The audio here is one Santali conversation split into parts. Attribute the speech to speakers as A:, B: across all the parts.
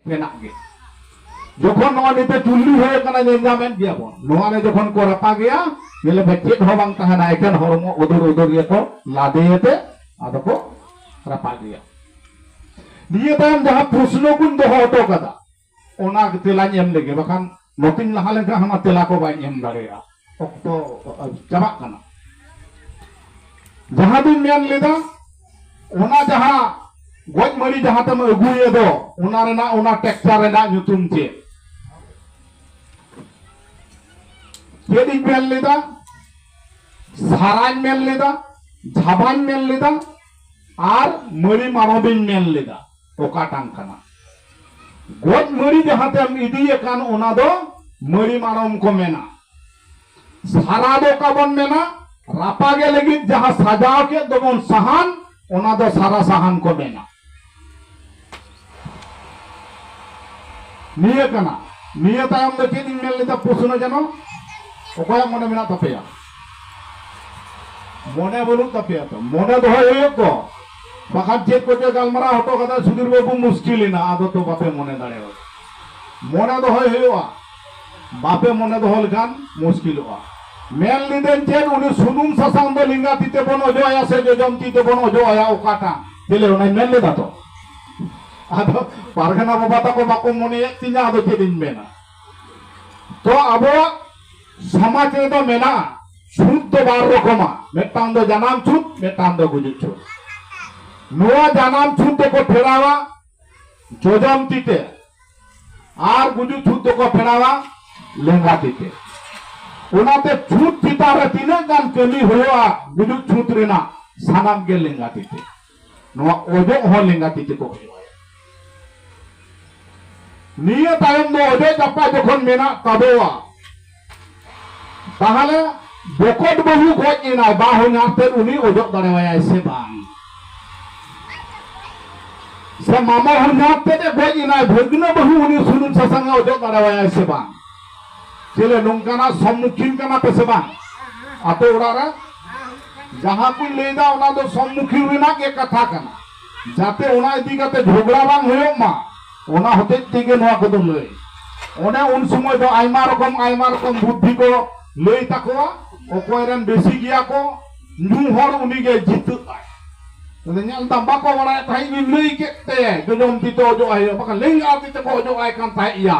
A: ᱢᱮᱱᱟᱜ ᱜᱮ ᱡᱚᱠᱷᱚᱱ ᱱᱚᱣᱟ ᱱᱤᱛᱚᱜ ᱪᱩᱞᱞᱤ ᱦᱩᱭ ᱟᱠᱟᱱᱟ ᱧᱮᱞ ᱧᱟᱢᱮᱫ ᱜᱮᱭᱟ ᱵᱚᱱ ᱱᱚᱣᱟ ᱨᱮ ᱡᱚᱠᱷᱚᱱ ᱠᱚ ᱨᱟᱯᱟᱜᱮᱭᱟ ᱧᱮᱞ ᱵᱚ ᱪᱮᱫ ᱦᱚᱸ ᱵᱟᱝ ᱛᱟᱦᱮᱱᱟ ᱮᱠᱮᱱ ᱦᱚᱲᱢᱚ ᱩᱫᱩᱨ ᱩᱫᱩᱨ ᱜᱮᱠᱚ ᱞᱟᱫᱮᱭᱮᱛᱮ ᱟᱫᱚ ᱠᱚ ᱨᱟᱯᱟᱜᱮᱭᱟ ᱱᱤᱭᱟᱹ ᱛᱟᱭᱚᱢ ᱡᱟᱦᱟᱸ ᱯᱨᱚᱥᱱᱚ ᱠᱚᱧ ᱫᱚᱦᱚ ᱦᱚᱴᱚ ᱠᱟᱫᱟ ᱚᱱᱟ ᱛᱮᱞᱟᱧ ᱮᱢ ᱞᱮᱜᱮ ᱵᱟᱠᱷᱟᱱ ᱱᱚᱛᱮᱧ ᱞᱟᱦᱟ ᱞᱮᱱᱠᱷᱟᱱ ᱦᱟᱱᱟ ᱛᱮᱞᱟ ᱠᱚ ᱵᱟᱹᱧ ᱮᱢ ᱫᱟᱲᱮᱭᱟᱜᱼᱟ ᱚᱠᱛᱚ ᱪᱟᱵᱟᱜ ᱠᱟᱱᱟ ᱡᱟᱦᱟᱸ ᱫᱚᱧ ᱢᱮᱱ ᱞᱮᱫᱟ ᱚᱱᱟ ᱡᱟᱦᱟᱸ ᱜᱚᱡ ᱢᱟᱹᱲᱤ ᱡᱟᱦᱟᱸ ᱛᱮᱢ ᱟᱹᱜᱩᱭᱮ ᱫᱚ ᱚᱱᱟ ᱨᱮᱱᱟᱜ ᱚᱱᱟ ᱴᱮᱠᱪᱟᱨ ᱨᱮᱱᱟᱜ ᱧᱩᱛᱩᱢ ᱪᱮᱫ ᱪᱮᱫ ᱤᱧ ᱢᱮᱱ ᱞᱮᱫᱟ ᱥᱟᱨᱟᱧ ᱢᱮᱱ ᱞᱮᱫᱟ ᱡᱷᱟᱵᱟᱧ ᱢᱮᱱ ᱞᱮᱫᱟ ᱟᱨ ᱢᱟᱹᱲᱤ ᱢᱟᱲᱚᱵᱤᱧ ᱢᱮᱱ ᱞᱮᱫᱟ ᱚᱠᱟᱴᱟᱝ ᱠᱟᱱᱟ? ᱜᱚᱡ ᱢᱟᱹᱲᱤ ᱡᱟᱦᱟᱸ ᱛᱮᱢ ᱤᱫᱤᱭᱮ ᱠᱟᱱ ᱚᱱᱟ ᱫᱚ ᱢᱟᱹᱲᱤ ᱢᱟᱲᱚᱢ ᱠᱚ ᱢᱮᱱᱟ᱾ ᱥᱟᱨᱟ ᱫᱚ ᱚᱠᱟ ᱵᱚᱱ ᱢᱮᱱᱟ? ᱨᱟᱯᱟᱜᱮ ᱞᱟᱹᱜᱤᱫ ᱡᱟᱦᱟᱸ ᱥᱟᱡᱟᱣ ᱠᱮᱫ ᱫᱚᱵᱚᱱ ᱥᱟᱦᱟᱱ ᱚᱱᱟ ᱫᱚ ᱥᱟᱨᱟ ᱥᱟᱦᱟᱱ ᱠᱚ ᱢᱮᱱᱟ᱾ ᱱᱤᱭᱟᱹ ᱠᱟᱱᱟ᱾ ᱱᱤᱭᱟᱹ ᱛᱟᱭᱚᱢ ᱫᱚ ᱪᱮᱫ ᱤᱧ ᱢᱮᱱ ᱞᱮᱫᱟ ᱯᱨᱚᱥᱱᱚ ᱡᱮᱱᱚ? ᱚᱠᱚᱭᱟᱜ ᱢᱚᱱᱮ ᱢᱮᱱᱟᱜ ᱛᱟᱯᱮᱭᱟ? ᱢᱚᱱᱮ ᱵᱟᱹᱱᱩᱜ ᱛᱟᱯᱮᱭᱟ ᱛᱚ? ᱢᱚᱱᱮ ᱫᱚᱦᱚᱭ ᱦᱩᱭᱩᱜ ᱫᱚ᱾ ᱵᱟᱠᱷᱟᱱ ᱪᱮᱫ ᱠᱚᱪᱚ ᱜᱟᱞᱢᱟᱨᱟᱣ ᱦᱚᱴᱚ ᱠᱟᱫᱟ ᱥᱩᱫᱷᱤᱨ ᱵᱟᱹᱵᱩ ᱢᱩᱥᱠᱤᱞ ᱮᱱᱟ ᱟᱫᱚ ᱛᱚ ᱵᱟᱯᱮ ᱢᱚᱱᱮ ᱫᱟᱲᱮᱭᱟᱜᱼᱟ ᱢᱚᱱᱮ ᱫᱚᱦᱚᱭ ᱦᱩᱭᱩᱜᱼᱟ ᱵᱟᱯᱮ ᱢᱚᱱᱮ ᱫᱚᱦᱚ ᱞᱮᱠᱷᱟᱱ ᱢᱩᱥᱠᱤᱞᱚᱜᱼᱟ ᱢᱮᱱ ᱞᱤᱫᱟᱹᱧ ᱪᱮᱫ ᱩᱱᱤ ᱥᱩᱱᱩᱢ ᱥᱟᱥᱟᱝ ᱫᱚ ᱞᱤᱸᱜᱟ ᱛᱤ ᱛᱮᱵᱚᱱ ᱚᱡᱚᱜ ᱟᱭᱟ ᱥᱮ ᱡᱚᱡᱚᱢ ᱛᱤ ᱛᱮᱵᱚᱱ ᱚᱡᱚᱜ ᱟᱭᱟ ᱚᱠᱟᱴᱟᱜ ᱪᱮᱞᱮ ᱚᱱᱟᱧ ᱢᱮᱱ ᱞᱮᱫᱟ ᱛᱚ ᱟᱫᱚ ᱯᱟᱨᱜᱟᱱᱟ ᱵᱟᱵᱟ ᱛᱟᱠᱚ ᱵᱟᱠᱚ ᱢᱚᱱᱮᱭᱮᱫ ᱛᱤᱧᱟ ᱟᱫᱚ ᱪᱮᱫ ᱤᱧ ᱢᱮᱱᱟ ᱛᱚ ᱟᱵᱚᱣᱟᱜ ᱥᱚᱢᱟᱡᱽ ᱨᱮᱫᱚ ᱢᱮᱱᱟᱜᱼᱟ ᱪᱷᱩᱛ ᱫᱚ ᱵᱟᱨ ᱨᱚᱠᱚᱢᱟ ᱢᱤᱫᱴᱟᱝ ᱫᱚ ᱡᱟᱱᱟᱢ ᱪᱷᱩᱛ ᱢᱤᱫᱴᱟᱝ ᱫᱚ ᱜᱩᱡᱩᱜ ᱪᱷᱩᱛ ᱱᱚᱣᱟ ᱡᱟᱱᱟᱢ ᱪᱷᱩᱛ ᱫᱚᱠᱚ ᱯᱷᱮᱨᱟᱣᱟ ᱡᱚᱡᱚᱢ ᱛᱤ ᱛᱮ ᱟᱨ ᱜᱩᱡᱩᱜ ᱪᱷᱩᱛ ᱫᱚᱠᱚ ᱯᱷᱮᱨᱟᱣᱟ ᱞᱮᱸᱜᱟ ᱛᱤ ᱛᱮ ᱚᱱᱟᱛᱮ ᱪᱷᱩᱛ ᱪᱮᱛᱟᱱ ᱨᱮ ᱛᱤᱱᱟᱹᱜ ᱜᱟᱱ ᱠᱟᱹᱢᱤ ᱦᱩᱭᱩᱜᱼᱟ ᱜᱩᱡᱩᱜ ᱪᱷᱩᱛ ᱨᱮᱱᱟᱜ ᱥᱟᱱᱟᱢ ᱜᱮ ᱞᱮᱸᱜᱟ ᱛᱤ ᱛᱮ ᱱᱚᱣᱟ ᱚᱡᱚᱜ ᱦᱚᱸ ᱞᱮᱸᱜᱟ ᱛᱤ ᱛᱮᱠᱚ ᱚᱡᱚᱜ ᱟᱭᱟ᱾ ᱱᱤᱭᱟᱹ ᱛᱟᱭᱚᱢ ᱫᱚ ᱚᱡᱚᱜ ᱪᱟᱯᱟ ᱡᱚᱠᱷᱚᱱ ᱢᱮᱱᱟᱜ ᱛᱟᱵᱚᱣᱟ ᱛᱟᱦᱞᱮ ᱵᱚᱠᱚᱛ ᱵᱟᱹᱦᱩ ᱜᱚᱡ ᱮᱱᱟᱭ ᱵᱟ ᱦᱚᱧᱦᱟᱨ ᱛᱮᱫ ᱩᱱᱤ ᱚᱡᱚᱜ ᱫᱟᱲᱮᱣᱟᱭᱟᱭ ᱥᱮ ᱵᱟᱝ? ᱥᱮ ᱢᱟᱢᱚ ᱦᱚᱧᱦᱟᱨ ᱛᱮᱫ ᱮ ᱜᱚᱡ ᱮᱱᱟᱭ ᱵᱷᱟᱹᱜᱽᱱᱟᱹ ᱵᱟᱹᱦᱩ ᱩᱱᱤ ᱥᱩᱱᱩᱢ ᱥᱟᱥᱟᱝ ᱮ ᱚᱡᱚᱜ ᱫᱟᱲᱮᱣᱟᱭᱟᱭ ᱥᱮ ᱵᱟᱝ? ᱪᱮᱞᱮ ᱱᱚᱝᱠᱟᱱᱟᱜ ᱥᱚᱢᱢᱩᱠᱷᱤᱱ ᱠᱟᱱᱟ ᱯᱮ ᱥᱮ ᱵᱟᱝ ᱟᱯᱮ ᱚᱲᱟᱜ ᱨᱮ ᱡᱟᱦᱟᱸ ᱠᱚᱧ ᱞᱟᱹᱭᱫᱟ ᱚᱱᱟ ᱫᱚ ᱥᱚᱢᱢᱩᱠᱷᱤᱱ ᱨᱮᱱᱟᱜ ᱜᱮ ᱠᱟᱛᱷᱟ ᱠᱟᱱᱟ ᱡᱟᱛᱮ ᱚᱱᱟ ᱤᱫᱤ ᱠᱟᱛᱮ ᱡᱷᱚᱜᱽᱲᱟ ᱵᱟᱝ ᱦᱩᱭᱩᱜ ᱢᱟ ᱚᱱᱟ ᱦᱚᱛᱮᱡ ᱛᱮᱜᱮ ᱱᱚᱣᱟ ᱠᱚᱫᱚ ᱞᱟᱹᱭ ᱚᱱᱮ ᱩᱱ ᱥᱚᱢᱚᱭ ᱫᱚ ᱟᱭᱢᱟ ᱨᱚᱠᱚᱢ ᱟᱭᱢᱟ ᱨᱚᱠᱚᱢ ᱵᱩᱫᱽᱫᱷᱤ ᱠᱚ ᱞᱟᱹᱭ ᱛᱟᱠᱚᱣᱟ ᱚᱠᱚᱭ ᱨᱮᱱ ᱵᱮᱥᱤ ᱜᱮᱭᱟ ᱠᱚ ᱧᱩ ᱦᱚᱲ ᱩᱱᱤ ᱜᱮ ᱡᱤᱛᱟᱹᱜᱼᱟᱭ ᱛᱟᱦᱞᱮ ᱧᱮᱞ ᱫᱟᱢ ᱵᱟᱠᱚ ᱵᱟᱲᱟᱭ ᱛᱟᱦᱮᱸᱫ ᱤᱧ ᱞᱟᱹᱭ ᱠᱮᱫ ᱛᱮ ᱡᱚᱡᱚᱢ ᱛᱤ ᱛᱮ ᱚᱡᱚᱜ ᱟᱭ ᱦᱩᱭᱩᱜᱼᱟ ᱵᱟᱠᱷᱟᱱ ᱞᱮᱸᱜᱟ ᱛᱤ ᱛᱮᱠᱚ ᱚᱡᱚᱜ ᱟᱭ ᱠᱟᱱ ᱛᱟᱦᱮᱸᱫ ᱭᱟ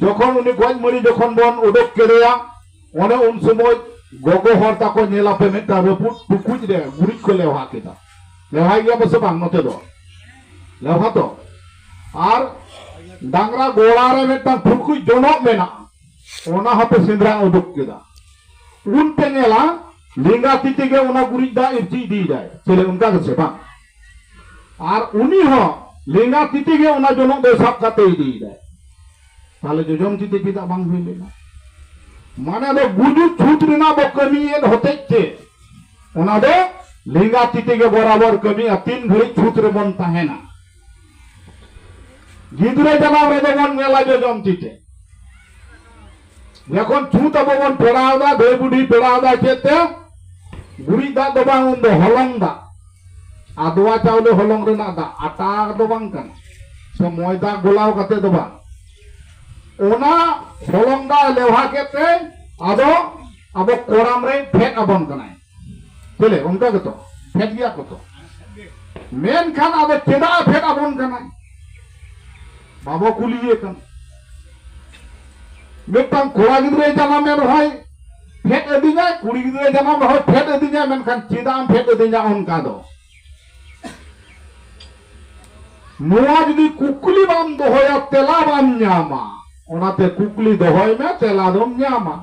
A: ᱡᱚᱠᱷᱚᱱ ᱩᱱᱤ ᱜᱚᱡ ᱢᱟᱹᱨᱤ ᱡᱚᱠᱷᱚᱱ ᱵᱚᱱ ᱩᱰᱩᱠ ᱠᱮᱫᱮᱭᱟ ᱚᱱᱮ ᱩᱱ ᱥᱚᱢᱚᱭ ᱜᱚᱜᱚ ᱦᱚᱲ ᱛᱟᱠᱚ ᱧᱮᱞ ᱟᱯᱮ ᱢᱤᱫᱴᱟᱝ ᱨᱟᱹᱯᱩᱫ ᱴᱩᱠᱩᱡ ᱨᱮ ᱜᱩᱨᱤᱡ ᱠᱚ ᱞᱮᱣᱦᱟ ᱠᱮᱫᱟ ᱞᱮᱣᱦᱟᱭ ᱜᱮᱭᱟ ᱯᱟᱥᱮ ᱵᱟᱝ ᱱᱚᱛᱮ ᱫᱚ ᱞᱮᱣᱦᱟ ᱛᱚ ᱟᱨ ᱰᱟᱝᱨᱟ ᱜᱚᱲᱟ ᱨᱮ ᱢᱤᱫᱴᱟᱝ ᱴᱩᱠᱩᱡ ᱡᱚᱱᱚᱜ ᱢᱮᱱᱟᱜᱼᱟ ᱚᱱᱟ ᱦᱚᱸᱯᱮ ᱥᱮᱸᱫᱽᱨᱟ ᱩᱰᱩᱠ ᱠᱮᱫᱟ ᱩᱱ ᱯᱮ ᱧᱮᱞᱟ ᱞᱮᱸᱜᱟ ᱛᱤ ᱛᱮᱜᱮ ᱚᱱᱟ ᱜᱩᱨᱤᱡ ᱫᱟᱜ ᱤᱨᱪᱤ ᱤᱫᱤᱭᱮᱫᱟᱭ ᱪᱮᱞᱮ ᱚᱱᱠᱟ ᱜᱮᱥᱮ ᱵᱟᱝ ᱟᱨ ᱩᱱᱤ ᱦᱚᱸ ᱞᱮᱸᱜᱟ ᱛᱤ ᱛᱮᱜᱮ ᱚᱱᱟ ᱡᱚᱱᱚᱜ ᱫᱚᱭ ᱥᱟᱵ ᱠᱟᱛᱮ ᱤᱫᱤᱭᱮᱫᱟᱭ ᱛᱟᱦᱞᱮ ᱡᱚᱡᱚᱢ ᱛᱤ ᱛᱮ ᱪᱮᱫᱟᱜ ᱵᱟᱝ ᱦᱩᱭ ᱞᱮᱱᱟ ᱢᱟᱱᱮ ᱫᱚ ᱜᱩᱡᱩᱜ ᱪᱷᱩᱛ ᱨᱮᱱᱟᱜ ᱵᱚ ᱠᱟᱹᱢᱤᱭᱮᱫ ᱦᱚᱛᱮᱡ ᱛᱮ ᱚᱱᱟ ᱫᱚ ᱞᱮᱸᱜᱟ ᱛᱤ ᱛᱮᱜᱮ ᱵᱚᱨᱟᱵᱚᱨ ᱠᱟᱹᱢᱤᱜᱼᱟ ᱛᱤᱱ ᱜᱷᱟᱹᱲᱤᱡ ᱪᱷᱩᱛ ᱨᱮᱵᱚᱱ ᱛᱟᱦᱮᱱᱟ ᱜᱤᱫᱽᱨᱟᱹ ᱡᱟᱱᱟᱢ ᱨᱮᱫᱚ ᱵᱚᱱ ᱧᱮᱞᱟ ᱡᱚᱡᱚᱢ ᱛᱤ ᱛᱮ ᱡᱚᱠᱷᱚᱱ ᱪᱷᱩᱛ ᱟᱵᱚ ᱵᱚᱱ ᱯᱮᱲᱟᱣ ᱫᱟ ᱫᱷᱟᱹᱭ ᱵᱩᱰᱷᱤ ᱯᱮᱲᱟᱣ ᱫᱟ ᱪᱮᱫ ᱛᱮ ᱜᱩᱨᱤᱡ ᱫᱟᱜ ᱫᱚ ᱵᱟᱝ ᱩᱱ ᱫᱚ ᱦᱚᱞᱚᱝ ᱫᱟᱜ ᱟᱫᱣᱟ ᱪᱟᱣᱞᱮ ᱦᱚᱞᱚᱝ ᱨᱮᱱᱟᱜ ᱫᱟᱜ ᱟᱴᱟ ᱫᱚ ᱵᱟᱝ ᱠᱟᱱᱟ ᱥᱮ ᱢᱚᱭᱫᱟ ᱜᱚᱞᱟᱣ ᱠᱟᱛᱮ ᱫᱚ ᱵᱟᱝ ᱚᱱᱟ ᱦᱚᱞᱚᱝ ᱫᱟᱜ ᱞᱮᱣᱦᱟ ᱠᱮᱫ ᱛᱮ ᱟᱫᱚ ᱟᱵᱚ ᱠᱚᱲᱟᱢ ᱨᱮ ᱯᱷᱮᱰ ᱟᱵᱚᱱ ᱠᱟᱱᱟᱭ ᱪᱮᱞᱮ ᱚᱱᱠᱟ ᱜᱮᱛᱚ ᱯᱷᱮᱰ ᱜᱮᱭᱟ ᱠᱚ ᱛᱚ ᱢᱮᱱᱠᱷᱟᱱ ᱟᱫᱚ ᱪᱮᱫᱟᱜ ᱯᱷᱮᱰ ᱟᱵᱚᱱ ᱠᱟᱱᱟ ᱵᱟᱵᱚ ᱠᱩᱞᱤᱭᱮ ᱠᱟᱱᱟ ᱢᱤᱫᱴᱟᱝ ᱠᱚᱲᱟ ᱜᱤᱫᱽᱨᱟᱹ ᱡᱟᱱᱟᱢᱮ ᱨᱚᱦᱚᱭ ᱯᱷᱮᱰ ᱟᱹᱫᱤᱧᱟᱭ ᱠᱩᱲᱤ ᱜᱤᱫᱽᱨᱟᱹ ᱡᱟᱱᱟᱢ ᱨᱚᱦᱚᱭ ᱯᱷᱮᱰ ᱟᱹᱫᱤᱧᱟᱭ ᱢᱮᱱᱠᱷᱟᱱ ᱪᱮᱫᱟᱜ ᱮᱢ ᱯᱷᱮᱰ ᱟᱹᱫᱤᱧᱟ ᱚᱱᱠᱟ ᱫᱚ ᱱᱚᱣᱟ ᱡᱩᱫᱤ ᱠᱩᱠᱞᱤ ᱵᱟᱢ ᱫᱚᱦᱚᱭᱟ ᱛᱮᱞᱟ ᱵᱟᱢ ᱧᱟᱢᱟ ᱚᱱᱟᱛᱮ ᱠᱩᱠᱞᱤ ᱫᱚᱦᱚᱭ ᱢᱮ ᱛᱮᱞᱟ ᱫᱚᱢ ᱧᱟᱢᱟ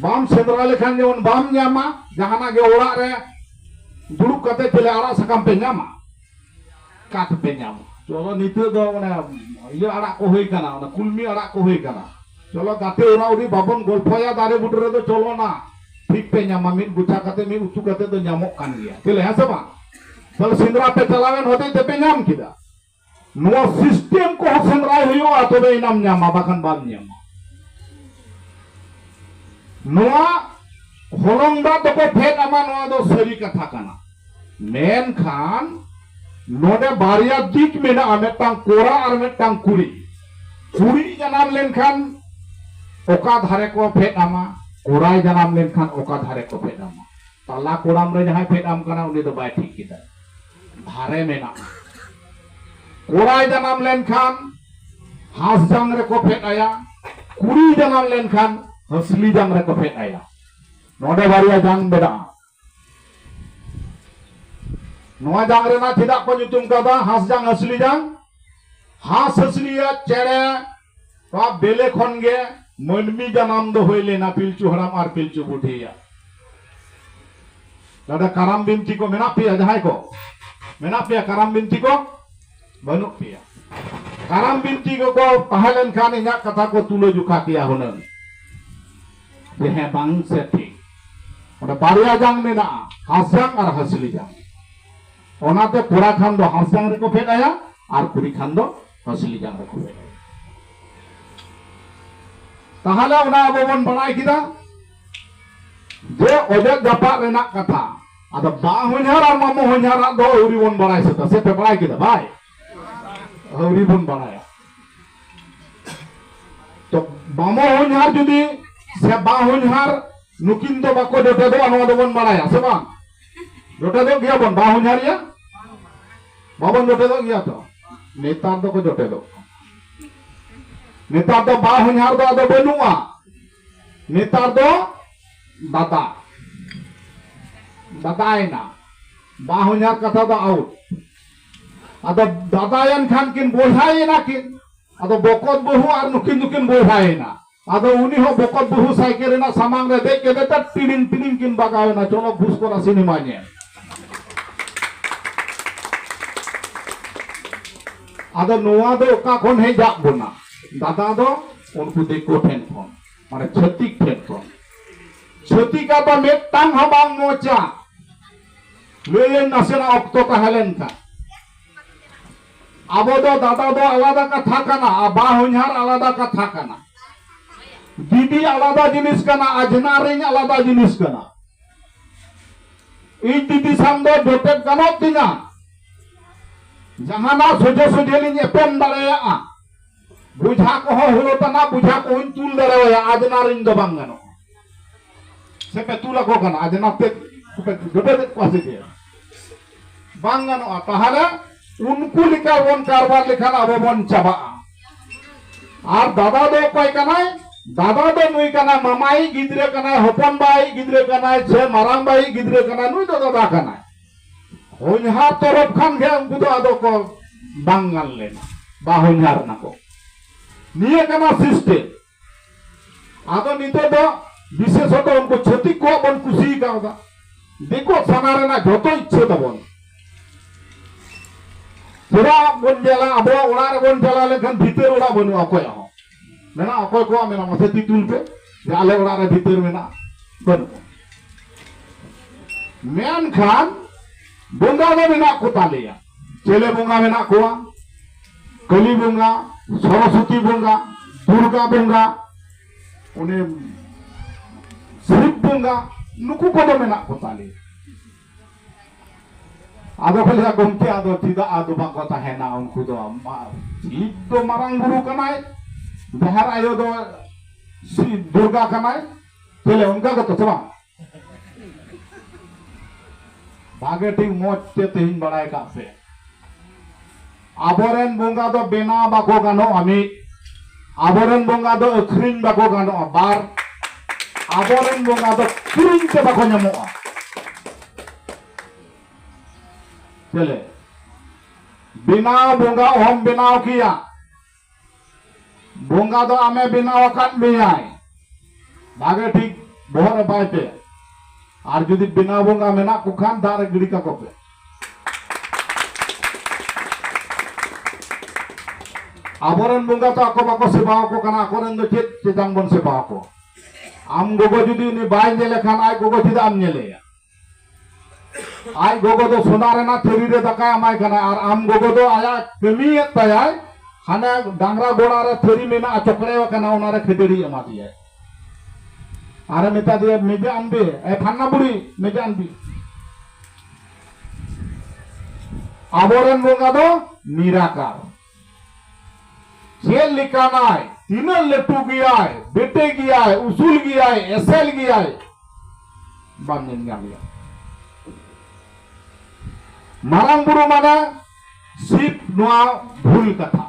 A: ᱵᱟᱢ ᱥᱮᱸᱫᱽᱨᱟ ᱞᱮᱠᱷᱟᱱ ᱡᱮᱢᱚᱱ ᱵᱟᱢ ᱧᱟᱢᱟ ᱡᱟᱦᱟᱱᱟᱜ ᱜᱮ ᱚᱲᱟᱜ ᱨᱮ ᱫᱩᱲᱩᱵ ᱠᱟᱛᱮ ᱪᱮᱞᱮ ᱟᱲᱟᱜ ᱥᱟᱠᱟᱢ ᱯᱮ ᱧᱟᱢᱟ ᱚᱠᱟ ᱛᱮᱯᱮ ᱧᱟᱢᱟ ᱪᱚᱞᱚ ᱱᱤᱛᱚᱜ ᱫᱚ ᱚᱱᱮ ᱤᱭᱟᱹ ᱟᱲᱟᱜ ᱠᱚ ᱦᱩᱭ ᱠᱟᱱᱟ ᱚᱱᱟ ᱠᱩᱞᱢᱤ ᱟᱲᱟᱜ ᱠᱚ ᱦᱩᱭ ᱠᱟᱱᱟ ᱪᱚᱞᱚ ᱜᱟᱛᱮ ᱚᱨᱟ ᱩᱨᱤ ᱵᱟᱵᱚᱱ ᱜᱚᱞᱯᱷᱚᱭᱟ ᱫᱟᱨᱮ ᱵᱩᱴᱟᱹ ᱨᱮᱫᱚ ᱪᱚᱞᱚ ᱱᱟ ᱴᱷᱤᱠ ᱯᱮ ᱧᱟᱢᱟ ᱢᱤᱫ ᱜᱚᱪᱷᱟ ᱠᱟᱛᱮ ᱢᱤᱫ ᱩᱛᱩ ᱠᱟᱛᱮ ᱫᱚ ᱧᱟᱢᱚᱜ ᱠᱟᱱ ᱜᱮᱭᱟ ᱪᱮᱞᱮ ᱦᱮᱸ ᱥᱮ ᱵᱟᱝ ᱛᱟᱦᱞᱮ ᱥᱮᱸᱫᱽᱨᱟ ᱯᱮ ᱪᱟᱞᱟᱣᱮᱱ ᱦᱚᱛᱮᱡ ᱛᱮᱯᱮ ᱧᱟᱢ ᱠᱮᱫᱟ ᱱᱚᱣᱟ ᱥᱤᱥᱴᱮᱢ ᱠᱚ ᱥᱮᱸᱫᱽᱨᱟᱭ ᱦᱩᱭᱩᱜᱼᱟ ᱛᱚᱵᱮ ᱮᱱᱟᱢ ᱧᱟᱢᱟ ᱵᱟᱠᱷᱟᱱ ᱵᱟᱢ ᱧᱟᱢᱟ ᱱᱚᱣᱟ ᱦᱚᱞᱚᱝ ᱫᱟᱜ ᱫᱚᱠᱚ ᱯᱷᱮᱰ ᱟᱢᱟ ᱱᱚᱣᱟ ᱫᱚ ᱥᱟᱹᱨᱤ ᱠᱟᱛᱷᱟ ᱠᱟᱱᱟ ᱢᱮᱱᱠᱷᱟᱱ ᱱᱚᱰᱮ ᱵᱟᱨᱭᱟ ᱫᱤᱠ ᱢᱮᱱᱟᱜᱼᱟ ᱢᱤᱫᱴᱟᱝ ᱠᱚᱲᱟ ᱟᱨ ᱢᱤᱫᱴᱟᱝ ᱠᱩᱲᱤ ᱠᱩᱲᱤ ᱡᱟᱱᱟᱢ ᱞᱮᱱᱠᱷᱟᱱ ᱚᱠᱟ ᱫᱷᱟᱨᱮ ᱠᱚ ᱯᱷᱮᱰ ᱟᱢᱟ ᱠᱚᱲᱟᱭ ᱡᱟᱱᱟᱢ ᱞᱮᱱᱠᱷᱟᱱ ᱚᱠᱟ ᱫᱷᱟᱨᱮ ᱠᱚ ᱯᱷᱮᱰ ᱟᱢᱟ ᱛᱟᱞᱟ ᱠᱚᱲᱟᱢ ᱨᱮ ᱡᱟᱦᱟᱸᱭ ᱯᱷᱮᱰ ᱟᱢ ᱠᱟᱱᱟ ᱩᱱᱤ ᱫᱚ ᱵᱟᱭ ᱴᱷᱤᱠ ᱠᱮᱫᱟ ᱫᱷᱟᱨᱮ ᱢᱮᱱᱟᱜᱼᱟ᱾ ᱠᱚᱲᱟᱭ ᱡᱟᱱᱟᱢ ᱞᱮᱱ ᱠᱷᱟᱱ ᱦᱟᱸᱥᱡᱟᱝ ᱨᱮᱠᱚ ᱯᱷᱮᱫ ᱟᱭᱟ, ᱠᱩᱲᱤᱭ ᱡᱟᱱᱟᱢ ᱞᱮᱱ ᱠᱷᱟᱱ ᱦᱟᱹᱥᱞᱤ ᱡᱟᱝ ᱨᱮᱠᱚ ᱯᱷᱮᱫ ᱟᱭᱟ᱾ ᱱᱚᱰᱮ ᱵᱟᱨᱭᱟ ᱡᱟᱝ ᱢᱮᱱᱟᱜᱼᱟ᱾ ᱱᱚᱣᱟ ᱡᱟᱝ ᱨᱮᱱᱟᱜ ᱪᱮᱫᱟᱜ ᱠᱚ ᱧᱩᱛᱩᱢ ᱠᱟᱣᱫᱟ ᱦᱟᱸᱥᱡᱟᱝ ᱦᱟᱹᱥᱞᱤ ᱡᱟᱝ? ᱦᱟᱸᱥ ᱦᱟᱹᱥᱞᱤᱭᱟᱜ ᱪᱮᱬᱮ ᱱᱚᱣᱟ ᱵᱮᱞᱮ ᱠᱷᱚᱱ ᱜᱮ ᱢᱟᱹᱱᱢᱤ ᱡᱟᱱᱟᱢ ᱫᱚ ᱦᱩᱭ ᱞᱮᱱᱟ ᱯᱤᱞᱪᱩ ᱦᱟᱲᱟᱢ ᱟᱨ ᱯᱤᱞᱪᱩ ᱵᱩᱰᱷᱤᱭᱟᱜ ᱱᱚᱰᱮ ᱠᱟᱨᱟᱢ ᱵᱤᱱᱛᱤ ᱠᱚ ᱢᱮᱱᱟᱜ ᱯᱮᱭᱟ ᱡᱟᱦᱟᱸᱭ ᱠᱚ ᱢᱮᱱᱟᱜ ᱯᱮᱭᱟ ᱠᱟᱨᱟᱢ ᱵᱤᱱᱛᱤ ᱠᱚ ᱵᱟᱹᱱᱩᱜ ᱯᱮᱭᱟ ᱠᱟᱨᱟᱢ ᱵᱤᱱᱛᱤ ᱠᱚᱠᱚ ᱛᱟᱦᱮᱸ ᱞᱮᱱᱠᱷᱟᱱ ᱤᱧᱟᱹᱜ ᱠᱟᱛᱷᱟ ᱠᱚ ᱛᱩᱞᱟᱹ ᱡᱚᱠᱷᱟ ᱠᱮᱭᱟ ᱦᱩᱱᱟᱹᱝ ᱡᱮ ᱦᱮᱸ ᱵᱟᱝ ᱥᱮ ᱴᱷᱤᱠ ᱚᱸᱰᱮ ᱵᱟᱨᱭᱟ ᱡᱟᱝ ᱢᱮᱱᱟᱜᱼᱟ ᱦᱟᱥᱡᱟᱝ ᱟᱨ ᱦᱟᱹᱥᱞᱤ ᱡᱟᱝ ᱚᱱᱟᱛᱮ ᱠᱚᱲᱟ ᱠᱷᱟᱱ ᱫᱚ ᱦᱟᱥᱡᱟᱝ ᱨᱮᱠᱚ ᱯᱷᱮᱰ ᱟᱭᱟ ᱟᱨ ᱠᱩᱲᱤ ᱠᱷᱟᱱ ᱫᱚ ᱦᱟᱹᱥᱞᱤ ᱡᱟᱝ ᱨᱮᱠᱚ ᱵᱮᱨᱮᱞ ᱛᱟᱦᱚᱞᱮ ᱚᱱᱟ ᱟᱵᱚ ᱵᱚᱱ ᱵᱟᱲᱟᱭ ᱠᱮᱫᱟ ᱡᱮ ᱚᱡᱚᱜ ᱡᱟᱯᱟᱜ ᱨᱮᱱᱟᱜ ᱠᱟᱛᱷᱟ ᱟᱫᱚ ᱵᱟ ᱦᱚᱧᱦᱟᱨ ᱟᱨ ᱢᱟᱢᱚ ᱦᱚᱧᱦᱟᱨᱟᱜ ᱫᱚ ᱟᱹᱣᱨᱤ ᱵᱚᱱ ᱵᱟᱲᱟᱭ ᱥᱟᱹᱛᱟ ᱥᱮ ᱯᱮ ᱵᱟᱲᱟᱭ ᱠᱮᱫᱟ ᱵᱟᱭ ᱟᱹᱣᱨᱤ ᱵᱚᱱ ᱵᱟᱲᱟᱭᱟ ᱛᱚ ᱢᱟᱢᱚ ᱦᱚᱧᱦᱟᱨ ᱡᱩᱫᱤ ᱥᱮ ᱵᱟ ᱦᱚᱧᱦᱟᱨ ᱱᱩᱠᱤᱱ ᱫᱚ ᱵᱟᱠᱚ ᱡᱚᱴᱮᱫᱚᱜᱼᱟ ᱱᱚᱣᱟ ᱫᱚᱵᱚᱱ ᱵᱟᱲᱟᱭᱟ ᱥᱮ ᱵᱟᱝ ᱡᱚᱴᱮ ᱫᱚᱜ ᱜᱮᱭᱟ ᱵᱚᱱ ᱵᱟ ᱦᱚᱧᱦᱟᱨᱤᱭᱟ ᱵᱟᱵᱚᱱ ᱡᱚᱴᱮ ᱫᱚᱜ ᱜᱮᱭᱟ ᱛᱚ ᱱᱮᱛᱟᱨ ᱫᱚᱠᱚ ᱡᱚᱴᱮ ᱫᱚᱜ ᱱᱮᱛᱟᱨ ᱫᱚ ᱵᱟ ᱦᱚᱧᱦᱟᱨ ᱫᱚ ᱟᱫᱚ ᱵᱟᱹᱱᱩᱜᱼᱟ ᱱᱮᱛᱟᱨ ᱫᱚ ᱫᱟᱫᱟ ᱫᱟᱫᱟᱭᱮᱱᱟ ᱵᱟ ᱦᱚᱧᱦᱟᱨ ᱠᱟᱛᱷᱟ ᱫᱚ ᱟᱣᱩᱴ ᱟᱫᱚ ᱫᱟᱫᱟᱭᱮᱱ ᱠᱷᱟᱱ ᱠᱤᱱ ᱵᱚᱭᱦᱟᱭᱮᱱᱟ ᱠᱤᱱ ᱟᱫᱚ ᱵᱚᱠᱚᱛ ᱵᱟᱹᱦᱩ ᱟᱨ ᱱᱩᱠᱤᱱ ᱫᱚᱠᱤᱱ ᱵᱚᱭᱦᱟᱭᱮᱱᱟ ᱟᱫᱚ ᱩᱱᱤ ᱦᱚᱸ ᱵᱚᱠᱚᱛ ᱵᱟᱹᱦᱩ ᱥᱟᱭᱠᱮᱞ ᱨᱮᱱᱟᱜ ᱥᱟᱢᱟᱝ ᱨᱮ ᱫᱮᱡ ᱠᱟᱛᱮ ᱛᱟᱨ ᱴᱤᱲᱤᱝ ᱴᱤᱲᱤᱝ ᱠᱤᱱ ᱵᱟᱜᱟᱣ ᱮᱱᱟ ᱪᱚᱞᱚ ᱵᱷᱩᱥ ᱠᱚᱨᱟ ᱥᱤᱱᱮᱢᱟ ᱧᱮᱞ ᱟᱫᱚ ᱱᱚᱣᱟ ᱫᱚ ᱚᱠᱟ ᱠᱷᱚᱱ ᱦᱮᱡ ᱟᱫ ᱵᱚᱱᱟ ᱫᱟᱫᱟ ᱫᱚ ᱩᱱᱠᱩ ᱫᱤᱠᱩ ᱴᱷᱮᱱ ᱠᱷᱚᱱ ᱢᱟᱱᱮ ᱪᱷᱟᱹᱛᱤᱠ ᱴᱷᱮᱱ ᱠᱷᱚᱱ ᱪᱷᱟᱹᱛᱤᱠᱟ ᱫᱚ ᱢᱤᱫᱴᱟᱝ ᱦᱚᱸ ᱵᱟᱝ ᱢᱚᱡᱟ ᱞᱟᱹᱭᱟᱹᱧ ᱱᱟᱥᱮᱱᱟᱜ ᱚᱠᱛᱚ ᱛᱟᱦᱮᱸ ᱞᱮᱱᱠᱷᱟᱱ ᱟᱵᱚ ᱫᱚ ᱫᱟᱫᱟ ᱫᱚ ᱟᱞᱟᱫᱟ ᱠᱟᱛᱷᱟ ᱠᱟᱱᱟ ᱟᱨ ᱵᱟ ᱦᱚᱧᱦᱟᱨ ᱟᱞᱟᱫᱟ ᱠᱟᱛᱷᱟ ᱠᱟᱱᱟ ᱫᱤᱫᱤ ᱟᱞᱟᱫᱟ ᱡᱤᱱᱤᱥ ᱠᱟᱱᱟ ᱟᱡᱷᱱᱟᱨ ᱤᱧ ᱟᱞᱟᱫᱟ ᱡᱤᱱᱤᱥ ᱠᱟᱱᱟ ᱤᱧ ᱫᱤᱫᱤ ᱥᱟᱝ ᱫᱚ ᱡᱚᱴᱮᱫ ᱜᱟᱱᱚᱜ ᱛᱤᱧᱟ ᱡᱟᱦᱟᱱᱟᱜ ᱥᱚᱡᱷᱮ ᱥᱚᱡᱷᱮ ᱞᱤᱧ ᱮᱯᱮᱢ ᱫᱟᱲᱮᱭᱟᱜᱼᱟ ᱵᱩᱡᱷᱟ ᱠᱚᱦᱚᱸ ᱦᱩᱭᱩᱜ ᱛᱟᱢᱟ ᱵᱩᱡᱷᱟ ᱠᱚᱦᱚᱧ ᱛᱩᱞ ᱫᱟᱲᱮᱣᱟᱭᱟ ᱟᱡᱱᱟ ᱨᱤᱧ ᱫᱚ ᱵᱟᱝ ᱜᱟᱱᱚᱜᱼᱟ ᱥᱮ ᱯᱮ ᱛᱩᱞ ᱟᱠᱚ ᱠᱟᱱᱟ ᱟᱡᱱᱟ ᱛᱮ ᱯᱮ ᱜᱟᱹᱵᱟᱹᱫᱮᱫ ᱠᱚᱣᱟ ᱥᱮ ᱪᱮᱫ ᱵᱟᱝ ᱜᱟᱱᱚᱜᱼᱟ ᱛᱟᱦᱚᱞᱮ ᱩᱱᱠᱩ ᱞᱮᱠᱟ ᱵᱚᱱ ᱠᱟᱨᱵᱟᱨ ᱞᱮᱠᱷᱟᱱ ᱟᱵᱚ ᱵᱚᱱ ᱪᱟᱵᱟᱜᱼᱟ ᱟᱨ ᱫᱟᱫᱟ ᱫᱚ ᱚᱠᱚᱭ ᱠᱟᱱᱟᱭ ᱫᱟᱫᱟ ᱫᱚ ᱱᱩᱭ ᱠᱟᱱᱟ ᱢᱟᱢᱟᱭᱤᱡ ᱜᱤᱫᱽᱨᱟᱹ ᱠᱟᱱᱟᱭ ᱦᱚᱯᱚᱱ ᱵᱟᱭᱤᱡ ᱜᱤᱫᱽᱨᱟᱹ ᱠᱟᱱᱟᱭ ᱥᱮ ᱢᱟᱨᱟᱝ ᱵᱟᱭᱤᱡ ᱜᱤᱫᱽᱨᱟᱹ ᱠᱟᱱᱟᱭ ᱱᱩᱭ ᱫᱚ ᱫᱟᱫᱟ ᱠᱟᱱᱟᱭ ᱦᱚᱧᱦᱟᱨ ᱛᱚᱨᱚᱯ ᱠᱷᱟᱱ ᱜᱮ ᱩᱱᱠᱩ ᱫᱚ ᱟᱫᱚ ᱠᱚ ᱵᱟᱝ ᱜᱟᱱ ᱞᱮᱱᱟ ᱵᱟ ᱦᱚᱧᱦᱟᱨ ᱱᱟᱠᱚ ᱱᱤᱭᱟᱹ ᱠᱟᱱᱟ ᱥᱤᱥᱴᱮᱢ ᱟᱫᱚ ᱱᱤᱛᱚᱜ ᱫᱚ ᱵᱤᱥᱮᱥᱚᱛ ᱩᱱᱠᱩ ᱪᱷᱟᱹᱛᱤᱠ ᱠᱚ ᱵᱚᱱ ᱠᱩᱥᱤ ᱠᱟᱣᱫᱟ ᱫᱤᱠᱩ ᱥᱟᱱᱟ ᱨᱮᱱᱟᱜ ᱡᱚᱛᱚ ᱤᱪᱪᱷᱟᱹ ᱛᱟᱵᱚᱱ ᱪᱮᱫᱟᱜ ᱵᱚᱱ ᱧᱮᱞᱟ ᱟᱵᱚᱣᱟᱜ ᱚᱲᱟᱜ ᱨᱮᱵᱚᱱ ᱪᱟᱞᱟᱣ ᱞᱮᱱᱠᱷᱟᱱ ᱵᱷᱤᱛᱟᱹᱨ ᱚᱲᱟᱜ ᱵᱟᱹᱱᱩᱜᱼᱟ ᱚᱠᱚᱭᱟᱜ ᱦᱚᱸ ᱢᱮᱱᱟᱜᱼᱟ ᱚᱠᱚᱭ ᱠᱚᱣᱟᱜ ᱢᱮᱱᱟᱜᱼᱟ ᱢᱟᱥᱮ ᱛᱤ ᱛᱩᱞ ᱯᱮ ᱡᱮ ᱟᱞᱮ ᱚᱲᱟᱜ ᱨᱮ ᱵᱷᱤᱛᱟᱹᱨ ᱢᱮᱱᱟᱜᱼᱟ ᱵᱟᱹᱱᱩᱜᱼᱟ ᱢᱮᱱᱠᱷᱟᱱ ᱵᱚᱸᱜᱟ ᱫᱚ ᱢᱮᱱᱟᱜ ᱠᱚ ᱛᱟᱞᱮᱭᱟ ᱪᱮᱞᱮ ᱵᱚᱸᱜᱟ ᱢᱮᱱᱟᱜ ᱠᱚᱣᱟ ᱠᱟᱹᱞᱤ ᱵᱚᱸᱜᱟ ᱥᱚᱨᱚᱥᱚᱛᱤ ᱵᱚᱸᱜᱟ ᱫᱩᱨᱜᱟ ᱵᱚᱸᱜᱟ ᱩᱱᱤ ᱥᱤᱵ ᱵᱚᱸᱜᱟ ᱱᱩᱠᱩ ᱠᱚᱫᱚ ᱢᱮᱱᱟᱜ ᱠᱚ ᱛᱟᱞᱮᱭᱟ ᱟᱫᱚ ᱠᱚ ᱞᱟᱹᱭᱟ ᱜᱚᱢᱠᱮ ᱟᱫᱚ ᱪᱮᱫᱟᱜ ᱟᱫᱚ ᱵᱟᱠᱚ ᱛᱟᱦᱮᱱᱟ ᱩᱱᱠᱩ ᱫᱚ ᱥᱤᱵ ᱫᱚ ᱢᱟᱨᱟᱝ ᱵᱩᱨᱩ ᱠᱟᱱᱟᱭ ᱡᱟᱦᱮᱨ ᱟᱭᱳ ᱫᱚ ᱥᱤᱵ ᱫᱩᱨᱜᱟ ᱠᱟᱱᱟᱭ ᱛᱟᱦᱞᱮ ᱚᱱᱠᱟ ᱜᱮᱛᱚ ᱥᱮ ᱵᱟᱝ ᱵᱷᱟᱜᱮ ᱴᱷᱤᱠ ᱢᱚᱡᱽ ᱛᱮ ᱛᱮᱦᱮᱧ ᱵᱟᱲᱟᱭ ᱠᱟᱜ ᱯᱮ ᱟᱵᱚᱨᱮᱱ ᱵᱚᱸᱜᱟ ᱫᱚ ᱵᱮᱱᱟᱣ ᱵᱟᱠᱚ ᱜᱟᱱᱚᱜᱼᱟ ᱢᱤᱫ ᱟᱵᱚᱨᱮᱱ ᱵᱚᱸᱜᱟ ᱫᱚ ᱟᱹᱠᱷᱨᱤᱧ ᱵᱟᱠᱚ ᱜᱟᱱᱚᱜᱼᱟ ᱵᱟᱨ ᱟᱵᱚᱨᱮᱱ ᱵᱚᱸᱜᱟ ᱫᱚ ᱠᱤᱨᱤᱧ ᱛᱮ ᱵᱟᱠᱚ ᱧᱟᱢᱚᱜᱼᱟ ᱪᱮᱞᱮ ᱵᱮᱱᱟᱣ ᱵᱚᱸᱜᱟ ᱚᱦᱚᱢ ᱵᱮᱱᱟᱣ ᱠᱮᱭᱟ ᱵᱚᱸᱜᱟ ᱫᱚ ᱟᱢᱮ ᱵᱮᱱᱟᱣ ᱟᱠᱟᱫ ᱢᱮᱭᱟᱭ ᱵᱷᱟᱜᱮ ᱴᱷᱤᱠ ᱵᱚᱦᱚᱜ ᱨᱮ ᱵᱟᱭ ᱯᱮ ᱟᱨ ᱡᱩᱫᱤ ᱵᱮᱱᱟᱣ ᱵᱚᱸᱜᱟ ᱢᱮᱱᱟᱜ ᱠᱚ ᱠᱷᱟᱱ ᱫᱟᱜ ᱨᱮ ᱜᱤᱰᱤ ᱠᱟᱠᱚ ᱯᱮ ᱟᱵᱚᱨᱮᱱ ᱵᱚᱸᱜᱟ ᱛᱚ ᱟᱠᱚ ᱵᱟᱠᱚ ᱥᱮᱵᱟ ᱟᱠᱚ ᱠᱟᱱᱟ ᱟᱠᱚᱨᱮᱱ ᱫᱚ ᱪᱮᱫ ᱪᱮᱛᱟᱱ ᱵᱚᱱ ᱥᱮᱵᱟ ᱟᱠᱚ ᱟᱢ ᱜᱚᱜᱚ ᱡᱩᱫᱤ ᱩᱱᱤ ᱵᱟᱭ ᱧᱮᱞᱮ ᱠᱷᱟᱱ ᱟᱡ ᱜᱚᱜᱚ ᱪᱮᱫᱟᱜ ᱮᱢ ᱧᱮᱞᱮᱭᱟ ᱟᱡ ᱜᱚᱜᱚ ᱫᱚ ᱥᱚᱱᱟ ᱨᱮᱱᱟᱜ ᱛᱷᱟᱹᱨᱤ ᱨᱮ ᱫᱟᱠᱟᱭ ᱮᱢᱟᱭ ᱠᱟᱱᱟ ᱟᱨ ᱟᱢ ᱜᱚᱜᱚ ᱫᱚ ᱟᱭᱟᱜ ᱠᱟᱹᱢᱤᱭᱮᱫ ᱛᱟᱭᱟᱭ ᱦᱟᱱᱮ ᱰᱟᱝᱨᱟ ᱜᱚᱲᱟ ᱨᱮ ᱛᱷᱟᱹᱨᱤ ᱢᱮᱱᱟᱜᱼᱟ ᱪᱚᱠᱲᱮ ᱟᱠᱟᱱᱟ ᱚᱱᱟ ᱨᱮ ᱠᱷᱟᱹᱡᱟᱹᱲᱤ ᱮᱢᱟ ᱫᱮᱭᱟᱭ ᱟᱨ ᱢᱮᱛᱟ ᱫᱮᱭᱟ ᱢᱮᱡᱟ ᱟᱱᱵᱮ ᱮ ᱯᱷᱟᱱᱱᱟ ᱵᱩᱲᱤ ᱢᱮᱡᱟ ᱟᱱᱵᱮ ᱟᱵᱚᱨᱮᱱ ᱵᱚᱸᱜᱟ ᱫᱚ ᱱᱤᱨᱟᱠᱟᱨ ᱪᱮᱫ ᱞᱮᱠᱟᱱᱟᱭ ᱛᱤᱱᱟᱹᱜ ᱞᱟᱹᱴᱩ ᱜᱮᱭᱟᱭ ᱵᱮᱴᱮ ᱜᱮᱭᱟᱭ ᱩᱥᱩᱞ ᱜᱮᱭᱟᱭ ᱮᱥᱮᱞ ᱜᱮᱭᱟᱭ ᱵᱟᱢ ᱧᱮᱞ ᱧᱟᱢᱮᱭᱟ ᱢᱟᱨᱟᱝ ᱵᱩᱨᱩ ᱢᱟᱱᱮ ᱥᱤᱵ ᱱᱚᱣᱟ ᱵᱷᱩᱞ ᱠᱟᱛᱷᱟ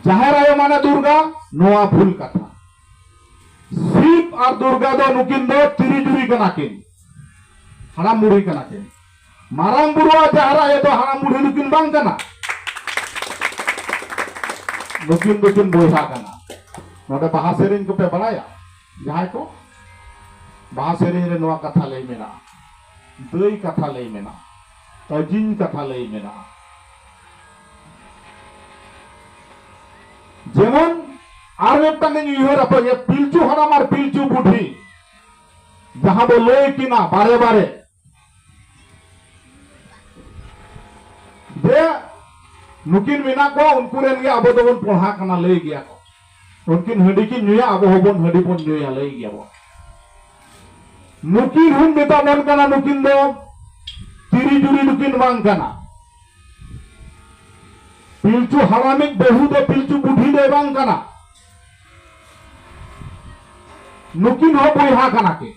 A: ᱡᱟᱦᱮᱨ ᱟᱭᱳ ᱢᱟᱱᱮ ᱫᱩᱨᱜᱟ ᱱᱚᱣᱟ ᱵᱷᱩᱞ ᱠᱟᱛᱷᱟ ᱥᱤᱵ ᱟᱨ ᱫᱩᱨᱜᱟ ᱫᱚ ᱱᱩᱠᱤᱱ ᱫᱚ ᱛᱤᱨᱤ ᱡᱩᱨᱤ ᱠᱟᱱᱟ ᱠᱤᱱ ᱦᱟᱲᱟᱢ ᱵᱩᱲᱦᱤ ᱠᱟᱱᱟ ᱠᱤᱱ ᱢᱟᱨᱟᱝ ᱵᱩᱨᱩ ᱟᱜ ᱡᱟᱦᱮᱨ ᱟᱭᱳ ᱫᱚ ᱦᱟᱲᱟᱢ ᱵᱩᱲᱦᱤ ᱱᱩᱠᱤᱱ ᱵᱟᱝ ᱠᱟᱱᱟ ᱱᱩᱠᱤᱱ ᱫᱚᱠᱤᱱ ᱵᱚᱭᱦᱟ ᱠᱟᱱᱟ ᱱᱚᱰᱮ ᱵᱟᱦᱟ ᱥᱮᱨᱮᱧ ᱠᱚᱯᱮ ᱵᱟᱲᱟᱭᱟ ᱡᱟᱦᱟᱸᱭ ᱠᱚ ᱵᱟᱦᱟ ᱥᱮᱨᱮᱧ ᱨᱮ ᱱᱚᱣᱟ ᱠᱟᱛᱷᱟ ᱞᱟᱹᱭ ᱢᱮᱱᱟᱜᱼᱟ ᱫᱟᱹᱭ ᱠᱟᱛᱷᱟ ᱞᱟᱹᱭ ᱢᱮᱱᱟᱜᱼᱟ ᱟᱹᱡᱤᱧ ᱠᱟᱛᱷᱟ ᱞᱟᱹᱭ ᱢᱮᱱᱟᱜᱼᱟ ᱡᱮᱢᱚᱱ ᱟᱨ ᱢᱤᱫᱴᱟᱝ ᱤᱧ ᱩᱭᱦᱟᱹᱨ ᱟᱯᱮ ᱯᱤᱞᱪᱩ ᱦᱟᱲᱟᱢ ᱟᱨ ᱯᱤᱞᱪᱩ ᱵᱩᱰᱷᱤ ᱡᱟᱦᱟᱸ ᱵᱚ ᱞᱟᱹᱭ ᱠᱤᱱᱟ ᱵᱟᱨᱮ ᱵᱟᱨᱮ ᱡᱮ ᱱᱩᱠᱤᱱ ᱢᱮᱱᱟᱜ ᱠᱚᱣᱟ ᱩᱱᱠᱩ ᱨᱮᱱ ᱜᱮ ᱟᱵᱚ ᱫᱚᱵᱚᱱ ᱯᱚᱲᱦᱟ ᱠᱟᱱᱟ ᱞᱟᱹᱭ ᱜᱮᱭᱟ ᱠᱚ ᱩᱱᱠᱤᱱ ᱦᱟᱺᱰᱤ ᱠᱤᱱ ᱧᱩᱭᱟ ᱟᱵᱚ ᱦᱚᱸᱵᱚᱱ ᱦᱟᱺᱰᱤ ᱵᱚᱱ ᱧᱩᱭᱟ ᱞᱟᱹᱭ ᱜᱮᱭᱟ ᱵᱚᱱ ᱱᱩᱠᱤᱱ ᱦᱚᱸ ᱢᱮᱛᱟ ᱵᱚᱱ ᱠᱟᱱᱟ ᱱᱩᱠᱤᱱ ᱫᱚ ᱛᱤᱨᱤ ᱡᱩᱨᱤ ᱫᱚᱠᱤᱱ ᱵᱟᱝ ᱠᱟᱱᱟ ᱯᱤᱞᱪᱩ ᱦᱟᱲᱟᱢᱤᱡ ᱵᱟᱹᱦᱩ ᱫᱚ ᱯᱤᱞᱪᱩ ᱵᱩᱰᱷᱤ ᱫᱚᱭ ᱵᱟᱝ ᱠᱟᱱᱟ ᱱᱩᱠᱤᱱ ᱦᱚᱸ ᱵᱚᱭᱦᱟ ᱠᱟᱱᱟ ᱠᱤᱱ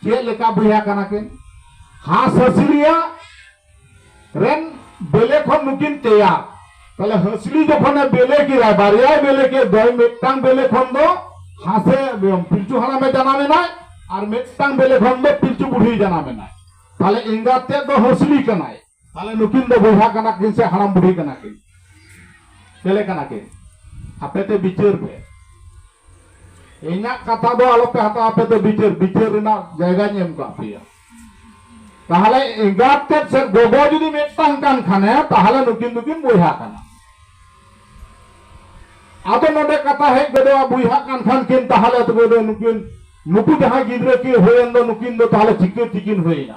A: ᱪᱮᱫ ᱞᱮᱠᱟ ᱵᱚᱭᱦᱟ ᱠᱟᱱᱟ ᱠᱤᱱ ᱦᱟᱸᱥ ᱦᱟᱹᱥᱞᱤᱭᱟ ᱨᱮᱱ ᱵᱮᱞᱮ ᱠᱷᱚᱱ ᱱᱩᱠᱤᱱ ᱛᱮᱭᱟᱨ ᱛᱟᱦᱞᱮ ᱦᱟᱹᱥᱞᱤ ᱡᱚᱠᱷᱚᱱᱮ ᱵᱮᱞᱮ ᱠᱮᱫᱟ ᱵᱟᱨᱭᱟᱭ ᱵᱮᱞᱮ ᱠᱮᱫ ᱫᱚᱭ ᱢᱤᱫᱴᱟᱝ ᱵᱮᱞᱮ ᱠᱷᱚᱱ ᱫᱚ ᱦᱟᱸᱥᱮ ᱯᱤᱞᱪᱩ ᱦᱟᱲᱟᱢᱮ ᱡᱟᱱᱟᱢᱮᱱᱟᱭ ᱟᱨ ᱢᱤᱫᱴᱟᱝ ᱵᱮᱞᱮ ᱠᱷᱚᱱ ᱫᱚ ᱯᱤᱞᱪᱩ ᱵᱩᱲᱦᱤ ᱡᱟᱱᱟᱢᱮᱱᱟᱭ ᱛᱟᱦᱞᱮ ᱮᱸᱜᱟᱛ ᱛᱮᱫ ᱫᱚ ᱦᱟᱹᱥᱞᱤ ᱠᱟᱱᱟᱭ ᱛᱟᱦᱚᱞᱮ ᱱᱩᱠᱤᱱ ᱫᱚ ᱵᱚᱭᱦᱟ ᱠᱟᱱᱟ ᱠᱤᱱ ᱥᱮ ᱦᱟᱲᱟᱢ ᱵᱩᱰᱷᱤ ᱠᱟᱱᱟ ᱠᱤᱱ ᱪᱮᱞᱮ ᱠᱟᱱᱟ ᱠᱤᱱ ᱟᱯᱮ ᱛᱮ ᱵᱤᱪᱟᱹᱨ ᱯᱮ ᱤᱧᱟᱹᱜ ᱠᱟᱛᱷᱟ ᱫᱚ ᱟᱞᱚ ᱯᱮ ᱦᱟᱛᱟᱣ ᱟᱯᱮ ᱫᱚ ᱵᱤᱪᱟᱹᱨ ᱵᱤᱪᱟᱹᱨ ᱨᱮᱱᱟᱜ ᱡᱟᱭᱜᱟᱧ ᱮᱢ ᱠᱟᱜ ᱯᱮᱭᱟ ᱛᱟᱦᱚᱞᱮ ᱮᱸᱜᱟᱛ ᱛᱮᱫ ᱥᱮ ᱜᱚᱜᱚ ᱡᱩᱫᱤ ᱢᱤᱫᱴᱟᱝ ᱠᱟᱱ ᱠᱷᱟᱱᱮ ᱛᱟᱦᱚᱞᱮ ᱱᱩᱠᱤᱱ ᱫᱚᱠᱤᱱ ᱵᱚᱭᱦᱟ ᱠᱟᱱᱟ ᱟᱫᱚ ᱱᱚᱰᱮ ᱠᱟᱛᱷᱟ ᱦᱮᱡ ᱜᱚᱫᱚᱜᱼᱟ ᱵᱚᱭᱦᱟ ᱠᱟᱱ ᱠᱷᱟᱱ ᱠᱤᱱ ᱛᱟᱦᱚᱞᱮ ᱛᱚᱵᱮ ᱫᱚ ᱱᱩᱠᱤᱱ ᱱᱩᱠᱩ ᱡᱟᱦᱟᱸᱭ ᱜᱤᱫᱽᱨᱟᱹ ᱠᱤᱱ ᱦᱩᱭᱮᱱ ᱫᱚ ᱱᱩᱠᱤᱱ ᱫᱚ ᱛᱟᱦᱚᱞᱮ ᱪᱤᱠᱟᱹ ᱛᱮᱠᱤᱱ ᱦᱩᱭᱮᱱᱟ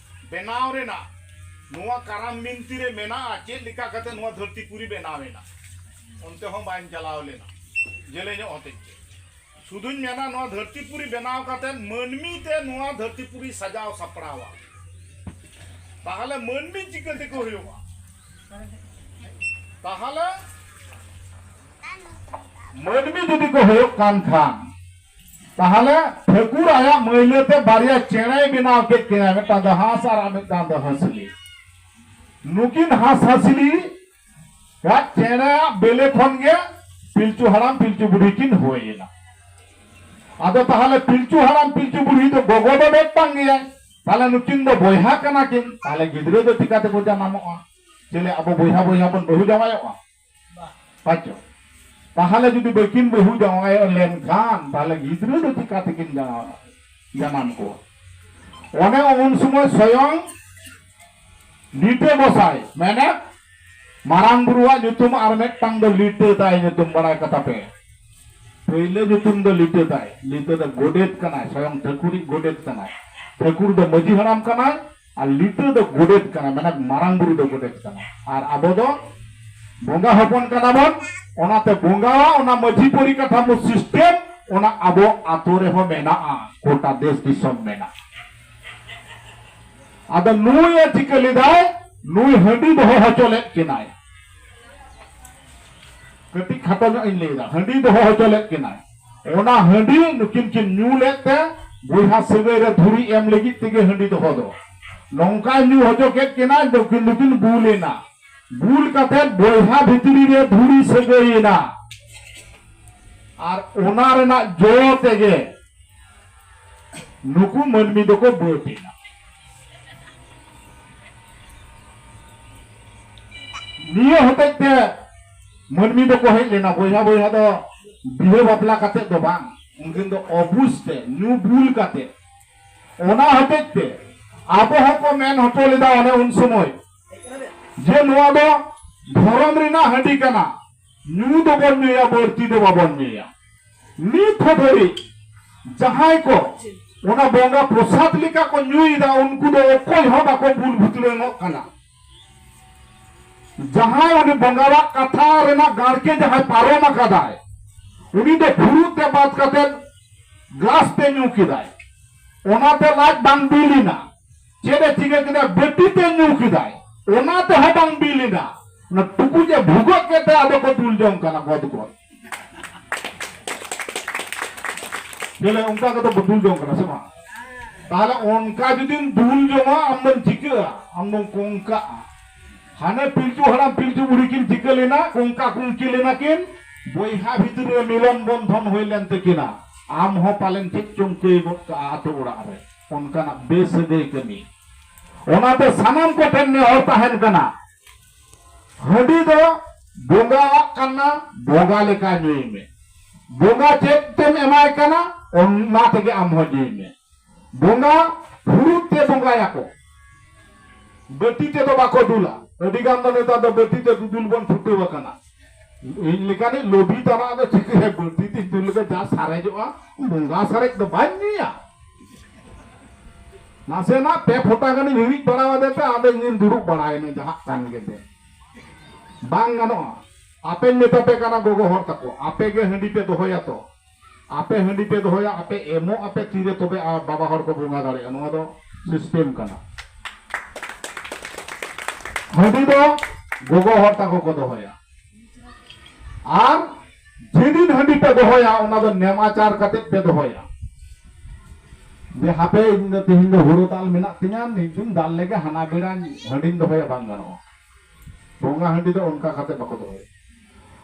A: ᱵᱮᱱᱟᱣ ᱨᱮᱱᱟᱜ ᱱᱚᱣᱟ ᱠᱟᱨᱟᱢ ᱵᱤᱱᱛᱤ ᱨᱮ ᱢᱮᱱᱟᱜᱼᱟ ᱪᱮᱫ ᱞᱮᱠᱟ ᱠᱟᱛᱮ ᱱᱚᱣᱟ ᱫᱷᱟᱹᱨᱛᱤ ᱯᱩᱨᱤ ᱵᱮᱱᱟᱣ ᱮᱱᱟ ᱚᱱᱛᱮ ᱦᱚᱸ ᱵᱟᱹᱧ ᱪᱟᱞᱟᱣ ᱞᱮᱱᱟ ᱡᱮᱞᱮᱧᱚᱜ ᱦᱚᱛᱮᱡ ᱛᱮ ᱥᱩᱫᱩᱧ ᱢᱮᱱᱟ ᱱᱚᱣᱟ ᱫᱷᱟᱹᱨᱛᱤ ᱯᱩᱨᱤ ᱵᱮᱱᱟᱣ ᱠᱟᱛᱮ ᱢᱟᱹᱱᱢᱤ ᱛᱮ ᱱᱚᱣᱟ ᱫᱷᱟᱹᱨᱛᱤ ᱯᱩᱨᱤ ᱥᱟᱡᱟᱣ ᱥᱟᱯᱲᱟᱣᱟ ᱛᱟᱦᱚᱞᱮ ᱢᱟᱹᱱᱢᱤ ᱪᱤᱠᱟᱹ ᱛᱮᱠᱚ ᱦᱩᱭᱩᱜᱼᱟ ᱛᱟᱦᱚᱞᱮ ᱢᱟᱹᱱᱢᱤ ᱡᱩᱫᱤ ᱠᱚ ᱦᱩᱭᱩᱜ ᱠᱟᱱ ᱠᱷᱟᱱ ᱛᱟᱦᱞᱮ ᱴᱷᱟᱹᱠᱩᱨ ᱟᱭᱟᱜ ᱢᱟᱹᱭᱞᱟᱹ ᱛᱮ ᱵᱟᱨᱭᱟ ᱪᱮᱬᱮᱭ ᱵᱮᱱᱟᱣ ᱠᱮᱫ ᱠᱤᱱᱟ ᱢᱤᱫᱴᱟᱝ ᱫᱚ ᱦᱟᱸᱥ ᱟᱨ ᱟᱨ ᱢᱤᱫᱴᱟᱝ ᱫᱚ ᱦᱟᱹᱥᱞᱤ ᱱᱩᱠᱤᱱ ᱦᱟᱸᱥ ᱦᱟᱹᱥᱞᱤ ᱟᱜ ᱪᱮᱬᱮᱭᱟᱜ ᱵᱮᱞᱮ ᱠᱷᱚᱱ ᱜᱮ ᱯᱤᱞᱪᱩ ᱦᱟᱲᱟᱢ ᱯᱤᱞᱪᱩ ᱵᱩᱰᱷᱤ ᱠᱤᱱ ᱦᱩᱭ ᱮᱱᱟ ᱟᱫᱚ ᱛᱟᱦᱞᱮ ᱯᱤᱞᱪᱩ ᱦᱟᱲᱟᱢ ᱯᱤᱞᱪᱩ ᱵᱩᱰᱷᱤ ᱫᱚ ᱜᱚᱜᱚ ᱫᱚ ᱢᱤᱫᱴᱟᱝ ᱜᱮᱭᱟᱭ ᱛᱟᱦᱞᱮ ᱱᱩᱠᱤᱱ ᱫᱚ ᱵᱚᱭᱦᱟ ᱠᱟᱱᱟ ᱠᱤᱱ ᱛᱟᱦᱞᱮ ᱜᱤᱫᱽᱨᱟᱹ ᱫᱚ ᱪᱤᱠᱟᱹ ᱛᱮᱠᱚ ᱡᱟᱱᱟᱢᱚᱜᱼᱟ ᱪᱮᱞᱮ ᱟᱵᱚ ᱵᱚᱭᱦᱟ ᱵᱚᱭᱦᱟ ᱵᱚᱱ ᱵᱟᱹᱦᱩ ᱡᱟᱶᱟᱭᱚᱜᱼᱟ ᱯᱟᱪᱚ ᱛᱟᱦᱚᱞᱮ ᱡᱩᱫᱤ ᱵᱟᱹᱠᱤᱱ ᱵᱟᱹᱦᱩ ᱡᱟᱶᱟᱭ ᱞᱮᱱᱠᱷᱟᱱ ᱛᱟᱦᱚᱞᱮ ᱜᱤᱫᱽᱨᱟᱹ ᱫᱚ ᱪᱤᱠᱟ ᱛᱮᱠᱤᱱ ᱡᱟᱶᱟᱭ ᱡᱟᱱᱟᱢ ᱠᱚᱣᱟ ᱚᱱᱮ ᱩᱱ ᱥᱚᱢᱚᱭ ᱥᱚᱭᱚᱝ ᱞᱤᱴᱟᱹ ᱜᱚᱥᱟᱭ ᱢᱮᱱᱮ ᱢᱟᱨᱟᱝ ᱵᱩᱨᱩᱣᱟᱜ ᱧᱩᱛᱩᱢ ᱟᱨ ᱢᱤᱫᱴᱟᱝ ᱫᱚ ᱞᱤᱴᱟᱹ ᱛᱟᱭ ᱧᱩᱛᱩᱢ ᱵᱟᱲᱟᱭ ᱠᱟᱛᱟ ᱯᱮ ᱯᱳᱭᱞᱳ ᱧᱩᱛᱩᱢ ᱫᱚ ᱞᱤᱴᱟᱹ ᱛᱟᱭ ᱞᱤᱴᱟᱹ ᱫᱚ ᱜᱚᱰᱮᱛ ᱠᱟᱱᱟᱭ ᱥᱚᱭᱚᱝ ᱴᱷᱟᱹᱠᱩᱨᱤᱡ ᱜᱚᱰᱮᱛ ᱠᱟᱱᱟᱭ ᱴᱷᱟᱹᱠᱩᱨ ᱫᱚ ᱢᱟᱹᱡᱷᱤ ᱦᱟᱲᱟᱢ ᱠᱟᱱᱟᱭ ᱟᱨ ᱞᱤᱴᱟᱹ ᱫᱚ ᱜᱚᱰᱮᱛ ᱠᱟᱱᱟ ᱢᱟᱱᱮ ᱢᱟᱨᱟᱝ ᱵᱩᱨᱩ ᱫᱚ ᱜᱚᱰᱮᱛ ᱠᱟᱱᱟ ᱟᱨ ᱟᱵᱚ ᱫᱚ ᱵᱚᱸᱜᱟ ᱦᱚᱯᱚᱱ ᱠᱟᱱᱟ ᱵᱚᱱ ᱚᱱᱟᱛᱮ ᱵᱚᱸᱜᱟᱣᱟ ᱚᱱᱟ ᱢᱟᱹᱡᱷᱤ ᱯᱚᱨᱤᱠᱟᱴᱷᱟᱢᱳ ᱥᱤᱥᱴᱮᱢ ᱚᱱᱟ ᱟᱵᱚ ᱟᱛᱳ ᱨᱮᱦᱚᱸ ᱢᱮᱱᱟᱜᱼᱟ ᱜᱚᱴᱟ ᱫᱮᱥ ᱫᱤᱥᱚᱢ ᱢᱮᱱᱟᱜᱼᱟ ᱟᱫᱚ ᱱᱩᱭ ᱮ ᱪᱤᱠᱟᱹ ᱞᱮᱫᱟᱭ ᱱᱩᱭ ᱦᱟᱺᱰᱤ ᱫᱚᱦᱚ ᱦᱚᱪᱚ ᱞᱮᱫ ᱠᱤᱱᱟᱭ ᱠᱟᱹᱴᱤᱡ ᱠᱷᱟᱴᱚ ᱧᱚᱜ ᱤᱧ ᱞᱟᱹᱭᱫᱟ ᱦᱟᱺᱰᱤ ᱫᱚᱦᱚ ᱦᱚᱪᱚ ᱞᱮᱫ ᱠᱤᱱᱟᱭ ᱚᱱᱟ ᱦᱟᱺᱰᱤ ᱱᱩᱠᱤᱱ ᱠᱤᱱ ᱧᱩ ᱞᱮᱫ ᱛᱮ ᱵᱚᱭᱦᱟ ᱥᱟᱹᱜᱟᱹᱭ ᱨᱮ ᱫᱷᱩᱨᱤ ᱮᱢ ᱞᱟᱹᱜᱤᱫ ᱛᱮᱜᱮ ᱦᱟᱺᱰᱤ ᱫᱚᱦᱚ ᱫᱚ ᱱᱚᱝᱠᱟᱭ ᱧᱩ ᱦᱚᱪᱚ ᱠᱮᱫ ᱠᱤᱱᱟ ᱱᱩᱠᱤᱱ ᱫᱚᱠᱤᱱ ᱵᱩᱞ ᱮᱱᱟ ᱵᱩᱞ ᱠᱟᱛᱮ ᱵᱚᱭᱦᱟ ᱵᱷᱤᱛᱨᱤ ᱨᱮ ᱫᱷᱩᱨᱤ ᱥᱟᱹᱜᱟᱹᱭ ᱮᱱᱟ ᱟᱨ ᱚᱱᱟ ᱨᱮᱱᱟᱜ ᱡᱚ ᱛᱮᱜᱮ ᱱᱩᱠᱩ ᱢᱟᱹᱱᱢᱤ ᱫᱚᱠᱚ ᱵᱟᱹᱫ ᱮᱱᱟ ᱱᱤᱭᱟᱹ ᱦᱚᱛᱮᱡ ᱛᱮ ᱢᱟᱹᱱᱢᱤ ᱫᱚᱠᱚ ᱦᱮᱡ ᱞᱮᱱᱟ ᱵᱚᱭᱦᱟ ᱵᱚᱭᱦᱟ ᱫᱚ ᱵᱤᱦᱟᱹ ᱵᱟᱯᱞᱟ ᱠᱟᱛᱮ ᱫᱚ ᱵᱟᱝ ᱩᱱᱠᱤᱱ ᱫᱚ ᱚᱵᱩᱡᱽ ᱛᱮ ᱧᱩ ᱵᱩᱞ ᱠᱟᱛᱮ ᱚᱱᱟ ᱦᱚᱛᱮᱡ ᱛᱮ ᱟᱵᱚ ᱦᱚᱸᱠᱚ ᱢᱮᱱ ᱦᱚᱪᱚ ᱞᱮᱫᱟ ᱚᱱᱮ ᱩᱱ ᱥᱚᱢᱚᱭ ᱡᱮ ᱱᱚᱣᱟ ᱫᱚ ᱫᱷᱚᱨᱚᱢ ᱨᱮᱱᱟᱜ ᱦᱟᱺᱰᱤ ᱠᱟᱱᱟ ᱧᱩ ᱫᱚᱵᱚᱱ ᱧᱩᱭᱟ ᱵᱟᱹᱲᱛᱤ ᱫᱚ ᱵᱟᱵᱚᱱ ᱧᱩᱭᱟ ᱱᱤᱛ ᱦᱚᱸ ᱫᱷᱟᱹᱨᱤᱡ ᱡᱟᱦᱟᱸᱭ ᱠᱚ ᱚᱱᱟ ᱵᱚᱸᱜᱟ ᱯᱨᱚᱥᱟᱫ ᱞᱮᱠᱟ ᱠᱚ ᱧᱩᱭᱮᱫᱟ ᱩᱱᱠᱩ ᱫᱚ ᱚᱠᱚᱭ ᱦᱚᱸ ᱵᱟᱠᱚ ᱵᱩᱞ ᱵᱷᱩᱛᱲᱟᱹᱝᱚᱜ ᱠᱟᱱᱟ ᱡᱟᱦᱟᱸᱭ ᱩᱱᱤ ᱵᱚᱸᱜᱟᱣᱟᱜ ᱠᱟᱛᱷᱟ ᱨᱮᱱᱟᱜ ᱜᱟᱲᱠᱮ ᱡᱟᱦᱟᱸᱭ ᱯᱟᱨᱚᱢ ᱟᱠᱟᱫᱟᱭ ᱩᱱᱤ ᱫᱚ ᱯᱷᱩᱨᱩᱜ ᱛᱮ ᱵᱟᱫ ᱠᱟᱛᱮ ᱜᱞᱟᱥ ᱛᱮ ᱧᱩ ᱠᱮᱫᱟᱭ ᱚᱱᱟᱛᱮ ᱞᱟᱡ ᱵᱟᱝ ᱵᱤᱞᱤᱱᱟ ᱪᱮᱫ ᱮ ᱪᱤᱠᱟᱹ ᱠᱮᱫᱟ ᱵᱮᱴᱤ ᱛᱮ ᱧᱩ ᱠᱮᱫᱟᱭ ᱚᱱᱟ ᱛᱮᱦᱚᱸ ᱵᱟᱝ ᱵᱤᱞᱤᱱᱟ ᱚᱱᱟ ᱴᱩᱠᱩᱡ ᱮ ᱵᱷᱩᱜᱟᱹᱜ ᱠᱮᱫ ᱛᱮ ᱟᱫᱚ ᱠᱚ ᱫᱩᱞ ᱡᱚᱝ ᱠᱟᱱᱟ ᱜᱚᱫ ᱜᱚᱫ ᱵᱚᱞᱮ ᱚᱱᱠᱟ ᱠᱟᱛᱮ ᱵᱚ ᱫᱩᱞ ᱡᱚᱝ ᱠᱟᱱᱟ ᱥᱮ ᱵᱟᱝ ᱛᱟᱦᱞᱮ ᱚᱱᱠᱟ ᱡᱩᱫᱤᱢ ᱫᱩᱞ ᱡᱚᱝᱟ ᱟᱢ ᱫᱚᱢ ᱪᱤᱠᱟᱹᱜᱼᱟ ᱟᱢ ᱫᱚᱢ ᱠᱚᱝᱠᱟᱜᱼᱟ ᱦᱟᱱᱮ ᱯᱤᱞᱪᱩ ᱦᱟᱲᱟᱢ ᱯᱤᱞᱪᱩ ᱵᱩᱲᱦᱤ ᱠᱤᱱ ᱪᱤᱠᱟᱹ ᱞᱮᱱᱟ ᱠᱚᱝᱠᱟ ᱠᱩᱝᱠᱤ ᱞᱮᱱᱟ ᱠᱤᱱ ᱵᱚᱭᱦᱟ ᱵᱷᱤᱛᱨᱤ ᱨᱮ ᱢᱤᱞᱚᱱ ᱵᱚᱱᱫᱷᱚᱱ ᱦᱩᱭ ᱞᱮᱱ ᱛᱟᱹᱠᱤᱱᱟ ᱟᱢ ᱦᱚᱸ ᱯᱟᱞᱮᱱ ᱪᱮᱫ ᱪᱚᱝ ᱠᱟᱹᱭ ᱜᱚᱫ ᱠᱟᱜᱼᱟ ᱟᱛᱳ ᱚᱲᱟᱜ ᱨᱮ ᱚᱱᱠᱟᱱᱟᱜ ᱵᱮᱥᱟᱹᱜᱟᱹᱭ ᱠᱟᱹᱢᱤ ᱚᱱᱟᱛᱮ ᱥᱟᱱᱟᱢ ᱠᱚᱴᱷᱮᱱ ᱱᱮᱦᱚᱨ ᱛᱟᱦᱮᱱ ᱠᱟᱱᱟ ᱦᱟᱺᱰᱤ ᱫᱚ ᱵᱚᱸᱜᱟᱣᱟᱜ ᱠᱟᱱᱟ ᱵᱚᱸᱜᱟ ᱞᱮᱠᱟ ᱧᱩᱭ ᱢᱮ ᱵᱚᱸᱜᱟ ᱪᱮᱫ ᱛᱮᱢ ᱮᱢᱟᱭ ᱠᱟᱱᱟ ᱚᱱᱟ ᱛᱮᱜᱮ ᱟᱢ ᱦᱚᱸ ᱧᱩᱭ ᱢᱮ ᱵᱚᱸᱜᱟ ᱯᱷᱩᱲᱩᱜ ᱛᱮ ᱵᱚᱸᱜᱟᱭᱟᱠᱚ ᱵᱟᱹᱴᱤ ᱛᱮᱫᱚ ᱵᱟᱠᱚ ᱫᱩᱞᱟ ᱟᱹᱰᱤ ᱜᱟᱱ ᱫᱚ ᱱᱮᱛᱟᱨ ᱫᱚ ᱵᱟᱹᱴᱤ ᱛᱮ ᱫᱩᱫᱩᱞ ᱵᱚᱱ ᱪᱷᱩᱴᱟᱹᱣ ᱟᱠᱟᱱᱟ ᱤᱧ ᱞᱮᱠᱟᱱᱤᱡ ᱞᱚᱵᱤ ᱛᱟᱱᱟᱜ ᱫᱚ ᱪᱤᱠᱟᱹᱭᱟ ᱵᱟᱹᱲᱛᱤ ᱛᱤᱧ ᱫᱩᱞ ᱞᱮᱠᱷᱟᱱ ᱡᱟ ᱥᱟᱨᱮᱡᱚᱜᱼᱟ ᱵᱚᱸᱜᱟ ᱥᱟᱨᱮᱡ ᱫᱚ ᱵᱟᱹᱧ ᱧᱩᱭᱟ ᱱᱟᱥᱮᱱᱟᱜ ᱯᱮ ᱯᱷᱚᱴᱟ ᱜᱟᱱᱤᱧ ᱦᱤᱨᱤᱡ ᱵᱟᱲᱟ ᱟᱫᱮ ᱛᱮ ᱟᱫᱚ ᱤᱧᱤᱧ ᱫᱩᱲᱩᱵ ᱵᱟᱲᱟᱭᱮᱱᱟ ᱡᱟᱦᱟᱸ ᱠᱟᱱ ᱜᱮ ᱫᱮ ᱵᱟᱝ ᱜᱟᱱᱚᱜᱼᱟ ᱟᱯᱮᱧ ᱢᱮᱛᱟ ᱯᱮ ᱠᱟᱱᱟ ᱜᱚᱜᱚ ᱦᱚᱲ ᱛᱟᱠᱚ ᱟᱯᱮ ᱜᱮ ᱦᱟᱺᱰᱤ ᱯᱮ ᱫᱚᱦᱚᱭᱟ ᱛᱚ ᱟᱯᱮ ᱦᱟᱺᱰᱤ ᱯᱮ ᱫᱚᱦᱚᱭᱟ ᱟᱯᱮ ᱮᱢᱚᱜ ᱟᱯᱮ ᱛᱤᱨᱮ ᱛᱚᱵᱮ ᱟᱨ ᱵᱟᱵᱟ ᱦᱚᱲ ᱠᱚ ᱵᱚᱸᱜᱟ ᱫᱟᱲᱮᱭᱟᱜᱼᱟ ᱱᱚᱣᱟ ᱫᱚ ᱥᱤᱥᱴᱮᱢ ᱠᱟᱱᱟ ᱦᱟᱺᱰᱤ ᱫᱚ ᱜᱚᱜᱚ ᱦᱚᱲ ᱛᱟᱠᱚ ᱠᱚ ᱫᱚᱦᱚᱭᱟ ᱟᱨ ᱡᱮᱫᱤᱱ ᱦᱟᱺᱰᱤ ᱯᱮ ᱫᱚᱦᱚᱭᱟ ᱚᱱᱟ ᱫᱚ ᱱᱮᱢᱟᱪᱟᱨ ᱠᱟᱛᱮ ᱯᱮ ᱫᱚᱦᱚᱭᱟ ᱡᱮ ᱦᱟᱯᱮ ᱤᱧ ᱫᱚ ᱛᱮᱦᱮᱧ ᱫᱚ ᱦᱩᱲᱩ ᱫᱟᱞ ᱢᱮᱱᱟᱜ ᱛᱤᱧᱟ ᱢᱤᱫ ᱫᱤᱱ ᱫᱟᱞ ᱞᱮᱜᱮ ᱦᱟᱱᱟ ᱵᱮᱲᱟ ᱦᱟᱺᱰᱤᱧ ᱫᱚᱦᱚᱭᱟ ᱵᱟᱝ ᱜᱟᱱᱚᱜᱼᱟ ᱵᱚᱸᱜᱟ ᱦᱟᱺᱰᱤ ᱫᱚ ᱚᱱᱠᱟ ᱠᱟᱛᱮ ᱵᱟᱠᱚ ᱫᱚᱦᱚᱭᱟ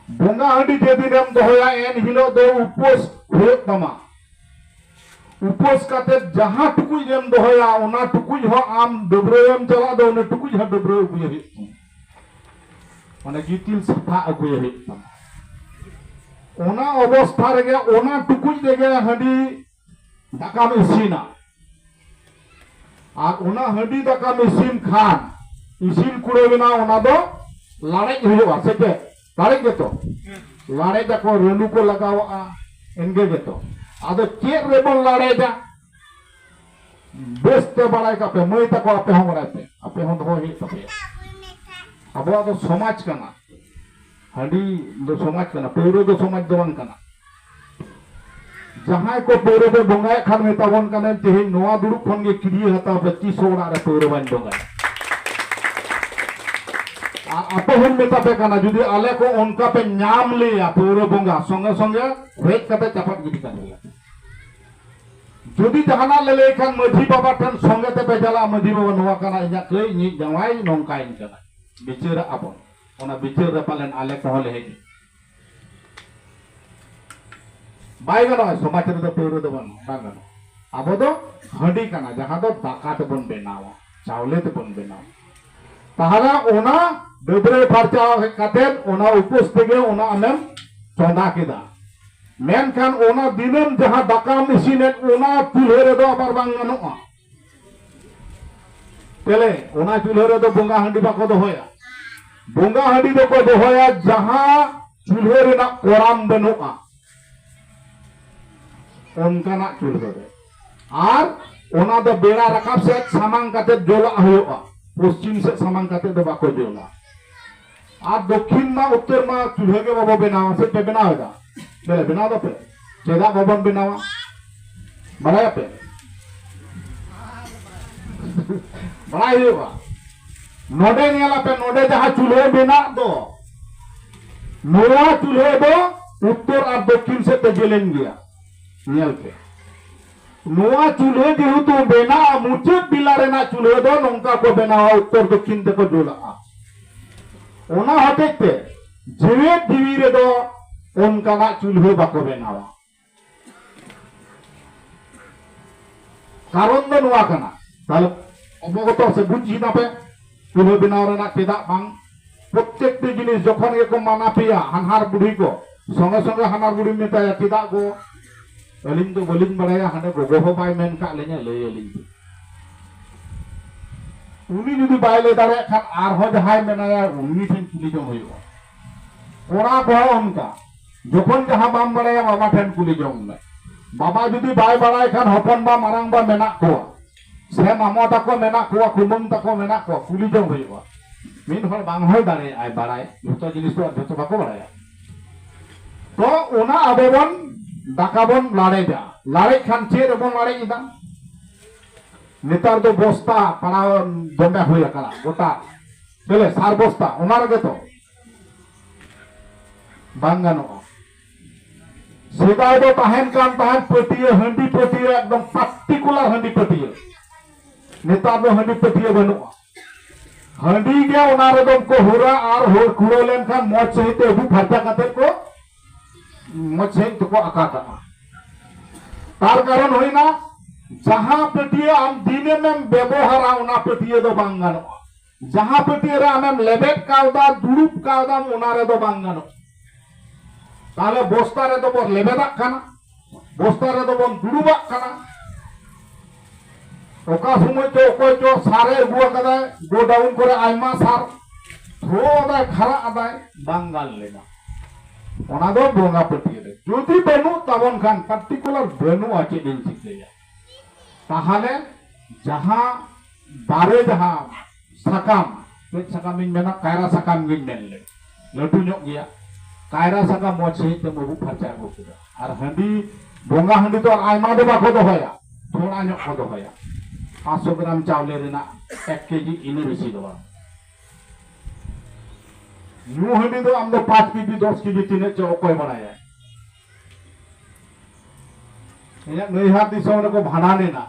A: ᱵᱚᱸᱜᱟ ᱦᱟᱺᱰᱤ ᱡᱮᱫᱤᱱᱮᱢ ᱫᱚᱦᱚᱭᱟ ᱮᱱ ᱦᱤᱞᱳᱜ ᱫᱚ ᱩᱯᱟᱹᱥ ᱦᱩᱭᱩᱜ ᱛᱟᱢᱟ ᱩᱯᱟᱹᱥ ᱠᱟᱛᱮ ᱡᱟᱦᱟᱸ ᱴᱩᱠᱩᱡ ᱨᱮᱢ ᱫᱚᱦᱚᱭᱟ ᱚᱱᱟ ᱴᱩᱠᱩᱡ ᱦᱚᱸ ᱟᱢ ᱰᱟᱹᱵᱽᱨᱟᱹᱣᱮᱢ ᱪᱟᱞᱟᱜ ᱫᱚ ᱚᱱᱟ ᱴᱩᱠᱩᱡ ᱦᱚᱸ ᱰᱟᱹᱵᱽᱨᱟᱹᱣ ᱟᱹᱜᱩᱭᱮ ᱦᱩᱭᱩᱜ ᱛᱟᱢᱟ ᱢᱟᱱᱮ ᱜᱤᱛᱤᱞ ᱥᱟᱯᱷᱟ ᱟᱹᱜᱩᱭᱮ ᱦᱩᱭᱩᱜ ᱛᱟᱢᱟ ᱚᱱᱟ ᱚᱵᱚᱥᱛᱷᱟ ᱨᱮᱜᱮ ᱚᱱᱟ ᱴᱩᱠᱩᱡ ᱨᱮᱜᱮ ᱦᱟᱺᱰᱤ ᱫᱟᱠᱟᱢ ᱤᱥᱤᱱᱟ ᱟᱨ ᱚᱱᱟ ᱦᱟᱺᱰᱤ ᱫᱟᱠᱟᱢ ᱤᱥᱤᱱ ᱠᱷᱟᱱ ᱤᱥᱤᱱ ᱠᱩᱲᱟᱹᱣᱮᱱᱟ ᱚᱱᱟ ᱫᱚ ᱞᱟᱲᱮᱡ ᱦᱩᱭᱩᱜᱼᱟ ᱥᱮ ᱪᱮᱫ ᱞᱟᱲᱮᱡ ᱜᱮᱛᱚ ᱞᱟᱲᱮᱡ ᱟᱠᱚ ᱨᱟᱹᱞᱩ ᱠᱚ ᱞᱟᱜᱟᱣᱟᱜᱼᱟ ᱮᱱᱜᱮ ᱜᱮᱛᱚ ᱟᱫᱚ ᱪᱮᱫ ᱨᱮᱵᱚᱱ ᱞᱟᱲᱮᱡᱟ ᱵᱮᱥ ᱛᱮ ᱵᱟᱲᱟᱭ ᱠᱟᱯᱮ ᱢᱟᱹᱭ ᱛᱟᱠᱚ ᱟᱯᱮ ᱦᱚᱸ ᱵᱟᱲᱟᱭ ᱯᱮ ᱟᱯᱮ ᱦᱚᱸ ᱫᱚᱦᱚ ᱦᱩᱭᱩᱜ ᱛᱟᱯᱮᱭᱟ ᱟᱵᱚᱣᱟᱜ ᱫᱚ ᱥᱚᱢᱟᱡᱽ ᱠᱟᱱᱟ ᱦᱟᱺᱰᱤ ᱫᱚ ᱥᱚᱢᱟᱡᱽ ᱠᱟᱱᱟ ᱯᱟᱹᱣᱨᱟᱹ ᱫᱚ ᱥᱚᱢᱟᱡᱽ ᱫᱚ ᱵᱟᱝ ᱠᱟᱱᱟ ᱡᱟᱦᱟᱸᱭ ᱠᱚ ᱯᱟᱹᱣᱨᱟᱹ ᱯᱮ ᱵᱚᱸᱜᱟᱭᱮᱫ ᱠᱷᱟᱱ ᱢᱮᱛᱟᱵᱚᱱ ᱠᱟᱱᱟ ᱛᱮᱦᱮᱧ ᱱᱚᱣᱟ ᱫᱩᱲᱩᱵ ᱠᱷᱚᱱ ᱜᱮ ᱠᱤᱨᱤᱭᱟᱹ ᱦᱟᱛᱟᱣ ᱯᱮ ᱛᱤᱥ ᱦᱚᱸ ᱚᱲᱟᱜ ᱨᱮ ᱯᱟᱹᱣᱨᱟᱹ ᱵᱟᱹᱧ ᱵᱚᱸᱜᱟᱭᱟ ᱟᱨ ᱟᱯᱮ ᱦᱚᱸᱧ ᱢᱮᱛᱟ ᱯᱮ ᱠᱟᱱᱟ ᱡᱩᱫᱤ ᱟᱞᱮ ᱠᱚ ᱚᱱᱠᱟ ᱯᱮ ᱧᱟᱢ ᱞᱮᱭᱟ ᱯᱟᱹᱣᱨᱟᱹ ᱵᱚᱸᱜᱟ ᱥᱚᱸᱜᱮ ᱥᱚᱸᱜᱮ ᱦᱮᱡ ᱠᱟᱛᱮ ᱪᱟᱯᱟᱫ ᱜᱤᱰᱤ ᱠᱟᱜ ᱞᱮᱭᱟ ᱡᱩᱫᱤ ᱡᱟᱦᱟᱱᱟᱜ ᱞᱮ ᱞᱟᱹᱭ ᱠᱷᱟᱱ ᱢᱟᱹᱡᱷᱤ ᱵᱟᱵᱟ ᱴᱷᱮᱱ ᱥᱚᱸᱜᱮ ᱛᱮᱯᱮ ᱪᱟᱞᱟᱜᱼᱟ ᱢᱟᱹᱡᱷᱤ ᱵᱟᱵᱟ ᱱᱚᱣᱟ ᱠᱟᱱᱟ ᱤᱧᱟᱹᱜ ᱠᱟᱹᱭ ᱤᱧᱤᱡ ᱡᱟᱶᱟᱭ ᱱᱚᱝᱠᱟᱭᱤᱧ ᱠᱟᱱᱟ ᱵᱤᱪᱟᱹᱨᱟᱜ ᱟᱵᱚᱱ ᱚᱱᱟ ᱵᱤᱪᱟᱹᱨ ᱨᱮ ᱯᱟᱞᱮᱱ ᱟᱞᱮ ᱠᱚᱦᱚᱸ ᱞᱮ ᱦᱮᱡ ᱵᱟᱭ ᱜᱟᱱᱚᱜᱼᱟ ᱥᱚᱢᱟᱡᱽ ᱨᱮᱫᱚ ᱯᱟᱹᱣᱨᱟᱹ ᱫᱚ ᱵᱟᱝ ᱵᱟᱝ ᱜᱟᱱᱚᱜᱼᱟ ᱟᱵᱚ ᱫᱚ ᱦᱟᱺᱰᱤ ᱠᱟᱱᱟ ᱡᱟᱦᱟᱸ ᱫᱚ ᱫᱟᱠᱟ ᱛᱮᱵᱚᱱ ᱵᱮᱱᱟᱣᱟ ᱪᱟᱣᱞᱮ ᱛᱮᱵᱚᱱ ᱵᱮᱱᱟᱣᱟ ᱛᱟᱦᱚᱞᱮ ᱚᱱᱟ ᱰᱟᱹᱵᱽᱨᱟᱹ ᱯᱷᱟᱨᱪᱟ ᱦᱮᱡ ᱠᱟᱛᱮ ᱚᱱᱟ ᱩᱯᱟᱹᱥ ᱛᱮᱜᱮ ᱚᱱᱟ ᱟᱢᱮᱢ ᱪᱚᱸᱫᱟ ᱠᱮᱫᱟ ᱢᱮᱱᱠᱷᱟᱱ ᱚᱱᱟ ᱫᱤᱱᱟᱹᱢ ᱡᱟᱦᱟᱸ ᱫᱟᱠᱟᱢ ᱤᱥᱤᱱᱮᱫ ᱚᱱᱟ ᱪᱩᱞᱦᱟᱹ ᱨᱮᱫᱚ ᱟᱵᱟᱨ ᱵᱟᱝ ᱜᱟᱱᱚᱜᱼᱟ ᱛᱮᱞᱮ ᱚᱱᱟ ᱪᱩᱞᱦᱟᱹ ᱨᱮᱫᱚ ᱵᱚᱸᱜᱟ ᱦᱟᱺᱰᱤ ᱵᱟᱠᱚ ᱫᱚᱦᱚᱭᱟ ᱵᱚᱸᱜᱟ ᱦᱟᱺᱰᱤ ᱫᱚᱠᱚ ᱫᱚᱦᱚᱭᱟ ᱡᱟᱦᱟᱸ ᱪᱩᱞᱦᱟᱹ ᱨᱮᱱᱟᱜ ᱠᱚᱲᱟᱢ ᱵᱟᱹᱱᱩᱜᱼᱟ ᱚᱱᱠᱟᱱᱟᱜ ᱪᱩᱞᱦᱟᱹ ᱨᱮ ᱟᱨ ᱚᱱᱟ ᱫᱚ ᱵᱮᱲᱟ ᱨᱟᱠᱟᱵ ᱥᱮᱫ ᱥᱟᱢᱟᱝ ᱠᱟᱛᱮ ᱡᱚᱞᱟᱜ ᱦᱩᱭᱩᱜᱼᱟ ᱯᱚᱥᱪᱤᱢ ᱥᱮᱫ ᱥᱟᱢᱟᱝ ᱠᱟᱛᱮ ᱫᱚ ᱵᱟᱠᱚ ᱡᱚᱞᱟ ᱟᱨ ᱫᱚᱠᱷᱤᱱ ᱢᱟ ᱩᱛᱛᱚᱨ ᱢᱟ ᱪᱩᱞᱦᱟᱹ ᱜᱮ ᱵᱟᱵᱚ ᱵᱮᱱᱟᱣᱟ ᱥᱮ ᱯᱮ ᱵᱮᱱᱟᱣ ᱮᱫᱟ ᱵᱮᱞᱮ ᱵᱮᱱᱟᱣ ᱫᱟᱯᱮ ᱪᱮᱫᱟᱜ ᱵᱟᱵᱚᱱ ᱵᱮᱱᱟᱣᱟ ᱵᱟᱲᱟᱭᱟᱯᱮ ᱵᱟᱲᱟᱭ ᱦᱩᱭᱩᱜᱼᱟ ᱱᱚᱰᱮ ᱧᱮᱞᱟᱯᱮ ᱱᱚᱰᱮ ᱡᱟᱦᱟᱸ ᱪᱩᱞᱦᱟᱹ ᱢᱮᱱᱟᱜ ᱫᱚ ᱱᱚᱣᱟ ᱪᱩᱞᱦᱟᱹ ᱫᱚ ᱩᱛᱛᱚᱨ ᱟᱨ ᱫᱚᱠᱷᱤᱱ ᱥᱮᱫ ᱛᱮ ᱡᱮᱞᱮᱧ ᱜᱮᱭᱟ ᱧᱮᱞ ᱯᱮ ᱱᱚᱣᱟ ᱪᱩᱞᱦᱟᱹ ᱡᱮᱦᱮᱛᱩ ᱢᱮᱱᱟᱜᱼᱟ ᱢᱩᱪᱟᱹᱫ ᱵᱮᱞᱟ ᱨᱮᱱᱟᱜ ᱪᱩᱞᱦᱟᱹ ᱫᱚ ᱱᱚᱝᱠᱟ ᱠᱚ ᱵᱮᱱᱟᱣᱟ ᱩᱛᱛᱚᱨ ᱫᱚᱠᱠᱷᱤᱱ ᱛᱮᱠᱚ ᱡᱩᱞᱟᱜᱼᱟ ᱚᱱᱟ ᱦᱚᱛᱮᱡ ᱛᱮ ᱡᱮᱣᱮᱫ ᱡᱤᱣᱤ ᱨᱮᱫᱚ ᱚᱱᱠᱟᱱᱟᱜ ᱪᱩᱞᱦᱟᱹ ᱵᱟᱠᱚ ᱵᱮᱱᱟᱣᱟ ᱠᱟᱨᱚᱱ ᱫᱚ ᱱᱚᱣᱟ ᱠᱟᱱᱟ ᱛᱟᱦᱞᱮ ᱚᱵᱚᱜᱚᱛᱚ ᱥᱮ ᱵᱩᱡᱽ ᱠᱮᱫᱟ ᱯᱮ ᱪᱩᱞᱦᱟᱹ ᱵᱮᱱᱟᱣ ᱨᱮᱱᱟᱜ ᱪᱮᱫᱟᱜ ᱵᱟᱝ ᱯᱨᱚᱛᱮᱠᱴᱤ ᱡᱤᱱᱤᱥ ᱡᱚᱠᱷᱚᱱ ᱜᱮᱠᱚ ᱢᱟᱱᱟ ᱯᱮᱭᱟ ᱦᱟᱱᱦᱟᱨ ᱵᱩᱰᱷᱤ ᱠᱚ ᱥᱚᱸᱜᱮ ᱥᱚᱸᱜᱮ ᱦᱟᱱᱦᱟᱨ ᱵᱩᱰᱷᱤ ᱢᱮᱛᱟᱭᱟ ᱪᱮᱫᱟᱜ ᱜᱚ ᱟᱹᱞᱤᱧ ᱫᱚ ᱵᱟᱹᱞᱤᱧ ᱵᱟᱲᱟᱭᱟ ᱦᱟᱸᱰᱮ ᱜᱚᱜᱚ ᱦᱚᱸ ᱵᱟᱭ ᱢᱮᱱ ᱠᱟᱜ ᱞᱤᱧᱟ ᱞᱟᱹᱭ ᱟᱹᱞᱤᱧ ᱯᱮ ᱩᱱᱤ ᱡᱩᱫᱤ ᱵᱟᱭ ᱞᱟᱹᱭ ᱫᱟᱲᱮᱭᱟᱜ ᱠᱷᱟᱱ ᱟᱨᱦᱚᱸ ᱡᱟᱦᱟᱸᱭ ᱢᱮᱱᱟᱭᱟ ᱩᱱᱤ ᱴᱷᱮᱱ ᱠᱩᱞᱤ ᱡᱚᱝ ᱦᱩᱭᱩᱜᱼᱟ ᱠᱚᱲᱟ ᱠᱚᱦᱚᱸ ᱚᱱᱠᱟ ᱡᱚᱠᱷᱚᱱ ᱡᱟᱦᱟᱸ ᱵᱟᱢ ᱵᱟᱲᱟᱭᱟ ᱵᱟᱵᱟ ᱴᱷᱮᱱ ᱠᱩᱞᱤ ᱡᱚᱝ ᱢᱮ ᱵᱟᱵᱟ ᱡᱩᱫᱤ ᱵᱟᱭ ᱵᱟᱲᱟᱭ ᱠᱷᱟᱱ ᱦᱚᱯᱚᱱ ᱵᱟ ᱢᱟᱨᱟᱝ ᱵᱟ ᱢᱮᱱᱟᱜ ᱠᱚᱣᱟ ᱥᱮ ᱢᱟᱢᱚ ᱛᱟᱠᱚ ᱢᱮᱱᱟᱜ ᱠᱚᱣᱟ ᱠᱩᱢᱟᱹᱝ ᱛᱟᱠᱚ ᱢᱮᱱᱟᱜ ᱠᱚᱣᱟ ᱠᱩᱞᱤ ᱡᱚᱝ ᱦᱩᱭᱩᱜᱼᱟ ᱢᱤᱫ ᱦᱚᱲ ᱵᱟᱝ ᱦᱩᱭ ᱫᱟᱲᱮᱭᱟᱜᱼᱟᱭ ᱵᱟᱲᱟᱭ ᱡᱚᱛᱚ ᱡᱤᱱᱤᱥ ᱫᱚ ᱟᱨ ᱡᱚᱛᱚ ᱵᱟᱠᱚ ᱵᱟᱲᱟᱭᱟ ᱛᱚ ᱚᱱᱟ ᱟᱵᱚ ᱵᱚᱱ ᱫᱟᱠᱟ ᱵᱚᱱ ᱞᱟᱲᱮᱡᱟ ᱞᱟᱲᱮᱡ ᱠᱷᱟᱱ ᱪᱮᱫ ᱨᱮᱵᱚᱱ ᱞᱟᱲᱮᱡ ᱮᱫᱟ ᱱᱮᱛᱟᱨ ᱫᱚ ᱵᱚᱥᱛᱟ ᱯᱟᱲᱟᱣ ᱫᱚᱢᱮ ᱦᱩᱭ ᱟᱠᱟᱱᱟ ᱜᱚᱴᱟ ᱪᱮᱞᱮ ᱥᱟᱨ ᱵᱚᱥᱛᱟ ᱚᱱᱟ ᱨᱮᱜᱮ ᱛᱚ ᱵᱟᱝ ᱜᱟᱱᱚᱜᱼᱟ ᱥᱮᱫᱟᱭ ᱫᱚ ᱛᱟᱦᱮᱱ ᱠᱟᱱ ᱛᱟᱦᱮᱱ ᱯᱟᱹᱴᱤᱭᱟᱹ ᱦᱟᱺᱰᱤ ᱯᱟᱹᱴᱤᱭᱟᱹ ᱮᱠᱫᱚᱢ ᱯᱟᱨᱴᱤᱠᱩᱞᱟᱨ ᱦᱟᱺᱰᱤ ᱯᱟᱹᱴᱤᱭᱟᱹ ᱱᱮᱛᱟᱨ ᱫᱚ ᱦᱟᱺᱰᱤ ᱯᱟᱹᱴᱤᱭᱟᱹ ᱵᱟᱹᱱᱩᱜᱼᱟ ᱦᱟᱺᱰᱤ ᱜᱮ ᱚᱱᱟ ᱨᱮᱫᱚ ᱠᱚ ᱦᱩᱨᱟ ᱟᱨ ᱦᱩᱨ ᱠᱩᱲᱟᱹᱣ ᱞᱮᱱᱠᱷᱟᱱ ᱢᱚᱡᱽ ᱥᱟᱺᱦᱤᱡ ᱛᱮ ᱟᱹᱵᱩ ᱯᱷᱟᱨᱪᱟ ᱠᱟᱛᱮ ᱠᱚ ᱢᱚᱡᱽ ᱥᱟᱺᱦᱤᱡ ᱛᱮᱠᱚ ᱟᱠᱟ ᱠᱟᱜᱼᱟ ᱛᱟᱨ ᱠᱟᱨᱚᱱ ᱦᱩᱭᱱᱟ ᱡᱟᱦᱟᱸ ᱯᱟᱹᱴᱤᱭᱟᱹ ᱟᱢ ᱫᱤᱱᱟᱹᱢᱮᱢ ᱵᱮᱵᱚᱦᱟᱨᱟ ᱚᱱᱟ ᱯᱟᱹᱴᱤᱭᱟᱹ ᱫᱚ ᱵᱟᱝ ᱜᱟᱱᱚᱜᱼᱟ ᱡᱟᱦᱟᱸ ᱯᱟᱹᱴᱭᱟᱹ ᱨᱮ ᱟᱢᱮᱢ ᱞᱮᱵᱮᱫ ᱠᱟᱣᱫᱟ ᱫᱩᱲᱩᱵ ᱠᱟᱣᱫᱟᱢ ᱚᱱᱟ ᱨᱮᱫᱚ ᱵᱟᱝ ᱜᱟᱱᱚᱜ ᱛᱟᱦᱞᱮ ᱵᱚᱥᱛᱟ ᱨᱮᱫᱚ ᱵᱚᱱ ᱞᱮᱵᱮᱫᱟᱜ ᱠᱟᱱᱟ ᱵᱚᱥᱛᱟ ᱨᱮᱫᱚ ᱵᱚᱱ ᱫᱩᱲᱩᱵᱟᱜ ᱠᱟᱱᱟ ᱚᱠᱟ ᱥᱚᱢᱚᱭ ᱪᱚ ᱚᱠᱚᱭ ᱪᱚ ᱥᱟᱨᱮ ᱟᱹᱜᱩ ᱟᱠᱟᱫᱟᱭ ᱜᱳᱰᱟᱣᱩᱱ ᱠᱚᱨᱮ ᱟᱭᱢᱟ ᱥᱟᱨ ᱛᱷᱨᱳ ᱟᱫᱟᱭ ᱠᱷᱟᱨᱟ ᱟᱫᱟᱭ ᱵᱟᱝ ᱜᱟᱱ ᱞᱮᱱᱟ ᱚᱱᱟ ᱫᱚ ᱵᱚᱸᱜᱟ ᱯᱟᱹᱴᱭᱟᱹ ᱨᱮ ᱡᱩᱫᱤ ᱵᱟᱹᱱᱩᱜ ᱛᱟᱵᱚᱱ ᱠᱷᱟᱱ ᱯᱟᱨᱴᱤᱠᱩᱞᱟᱨ ᱵᱟᱹᱱᱩᱜᱼᱟ ᱪᱮᱫ ᱤᱧ ᱪᱤᱠᱟᱹᱭᱟ ᱛᱟᱦᱟᱞᱮ ᱡᱟᱦᱟᱸ ᱫᱟᱨᱮ ᱡᱟᱦᱟᱸ ᱥᱟᱠᱟᱢ ᱪᱮᱫ ᱥᱟᱠᱟᱢᱤᱧ ᱢᱮᱱᱟ ᱠᱟᱭᱨᱟ ᱥᱟᱠᱟᱢ ᱜᱤᱧ ᱢᱮᱱ ᱞᱮᱫ ᱞᱟᱹᱴᱩ ᱧᱚᱜ ᱜᱮᱭᱟ ᱠᱟᱭᱨᱟ ᱥᱟᱠᱟᱢ ᱢᱚᱡᱽ ᱥᱟᱺᱦᱤᱡ ᱛᱮᱢ ᱟᱹᱵᱩᱜ ᱯᱷᱟᱨᱪᱟ ᱟᱹᱜᱩ ᱠᱮᱫᱟ ᱟᱨ ᱦᱟᱺᱰᱤ ᱵᱚᱸᱜᱟ ᱦᱟᱺᱰᱤ ᱫᱚ ᱟᱭᱢᱟ ᱫᱚ ᱵᱟᱠᱚ ᱫᱚᱦᱚᱭᱟ ᱛᱷᱚᱲᱟ ᱧᱚᱜ ᱠᱚ ᱫᱚᱦᱚᱭᱟ ᱯᱟᱸᱪᱥᱚ ᱜᱨᱟᱢ ᱪᱟᱣᱞᱮ ᱨᱮᱱᱟᱜ ᱮᱠ ᱠᱮᱡᱤ ᱤᱱᱟᱹ ᱵᱮᱥᱤ ᱫᱚ ᱵᱟᱝ ᱧᱩ ᱦᱟᱺᱰᱤ ᱫᱚ ᱟᱢ ᱫᱚ ᱯᱟᱸᱪ ᱠᱮᱡᱤ ᱫᱚᱥ ᱠᱮᱡᱤ ᱛᱤᱱᱟᱹᱜ ᱪᱚ ᱚᱠᱚᱭ ᱵᱟᱲᱟᱭᱟ ᱤᱧᱟᱹᱜ ᱱᱟᱹᱭᱦᱟᱨ ᱫᱤᱥᱚᱢ ᱨᱮᱠᱚ ᱵᱷᱟᱸᱰᱟᱱᱮᱱᱟ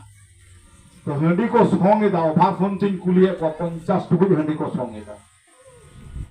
A: ᱛᱚ ᱦᱟᱺᱰᱤ ᱠᱚ ᱥᱚᱝ ᱮᱫᱟ ᱚᱵᱷᱟᱨ ᱥᱚᱝ ᱛᱤᱧ ᱠᱩᱞᱤᱭᱮᱫ ᱠᱚᱣᱟ ᱯᱚᱧᱪᱟᱥ ᱴᱩᱠᱩᱡ ᱦᱟᱺᱰᱤ ᱠᱚ ᱥᱚᱝ ᱮᱫᱟ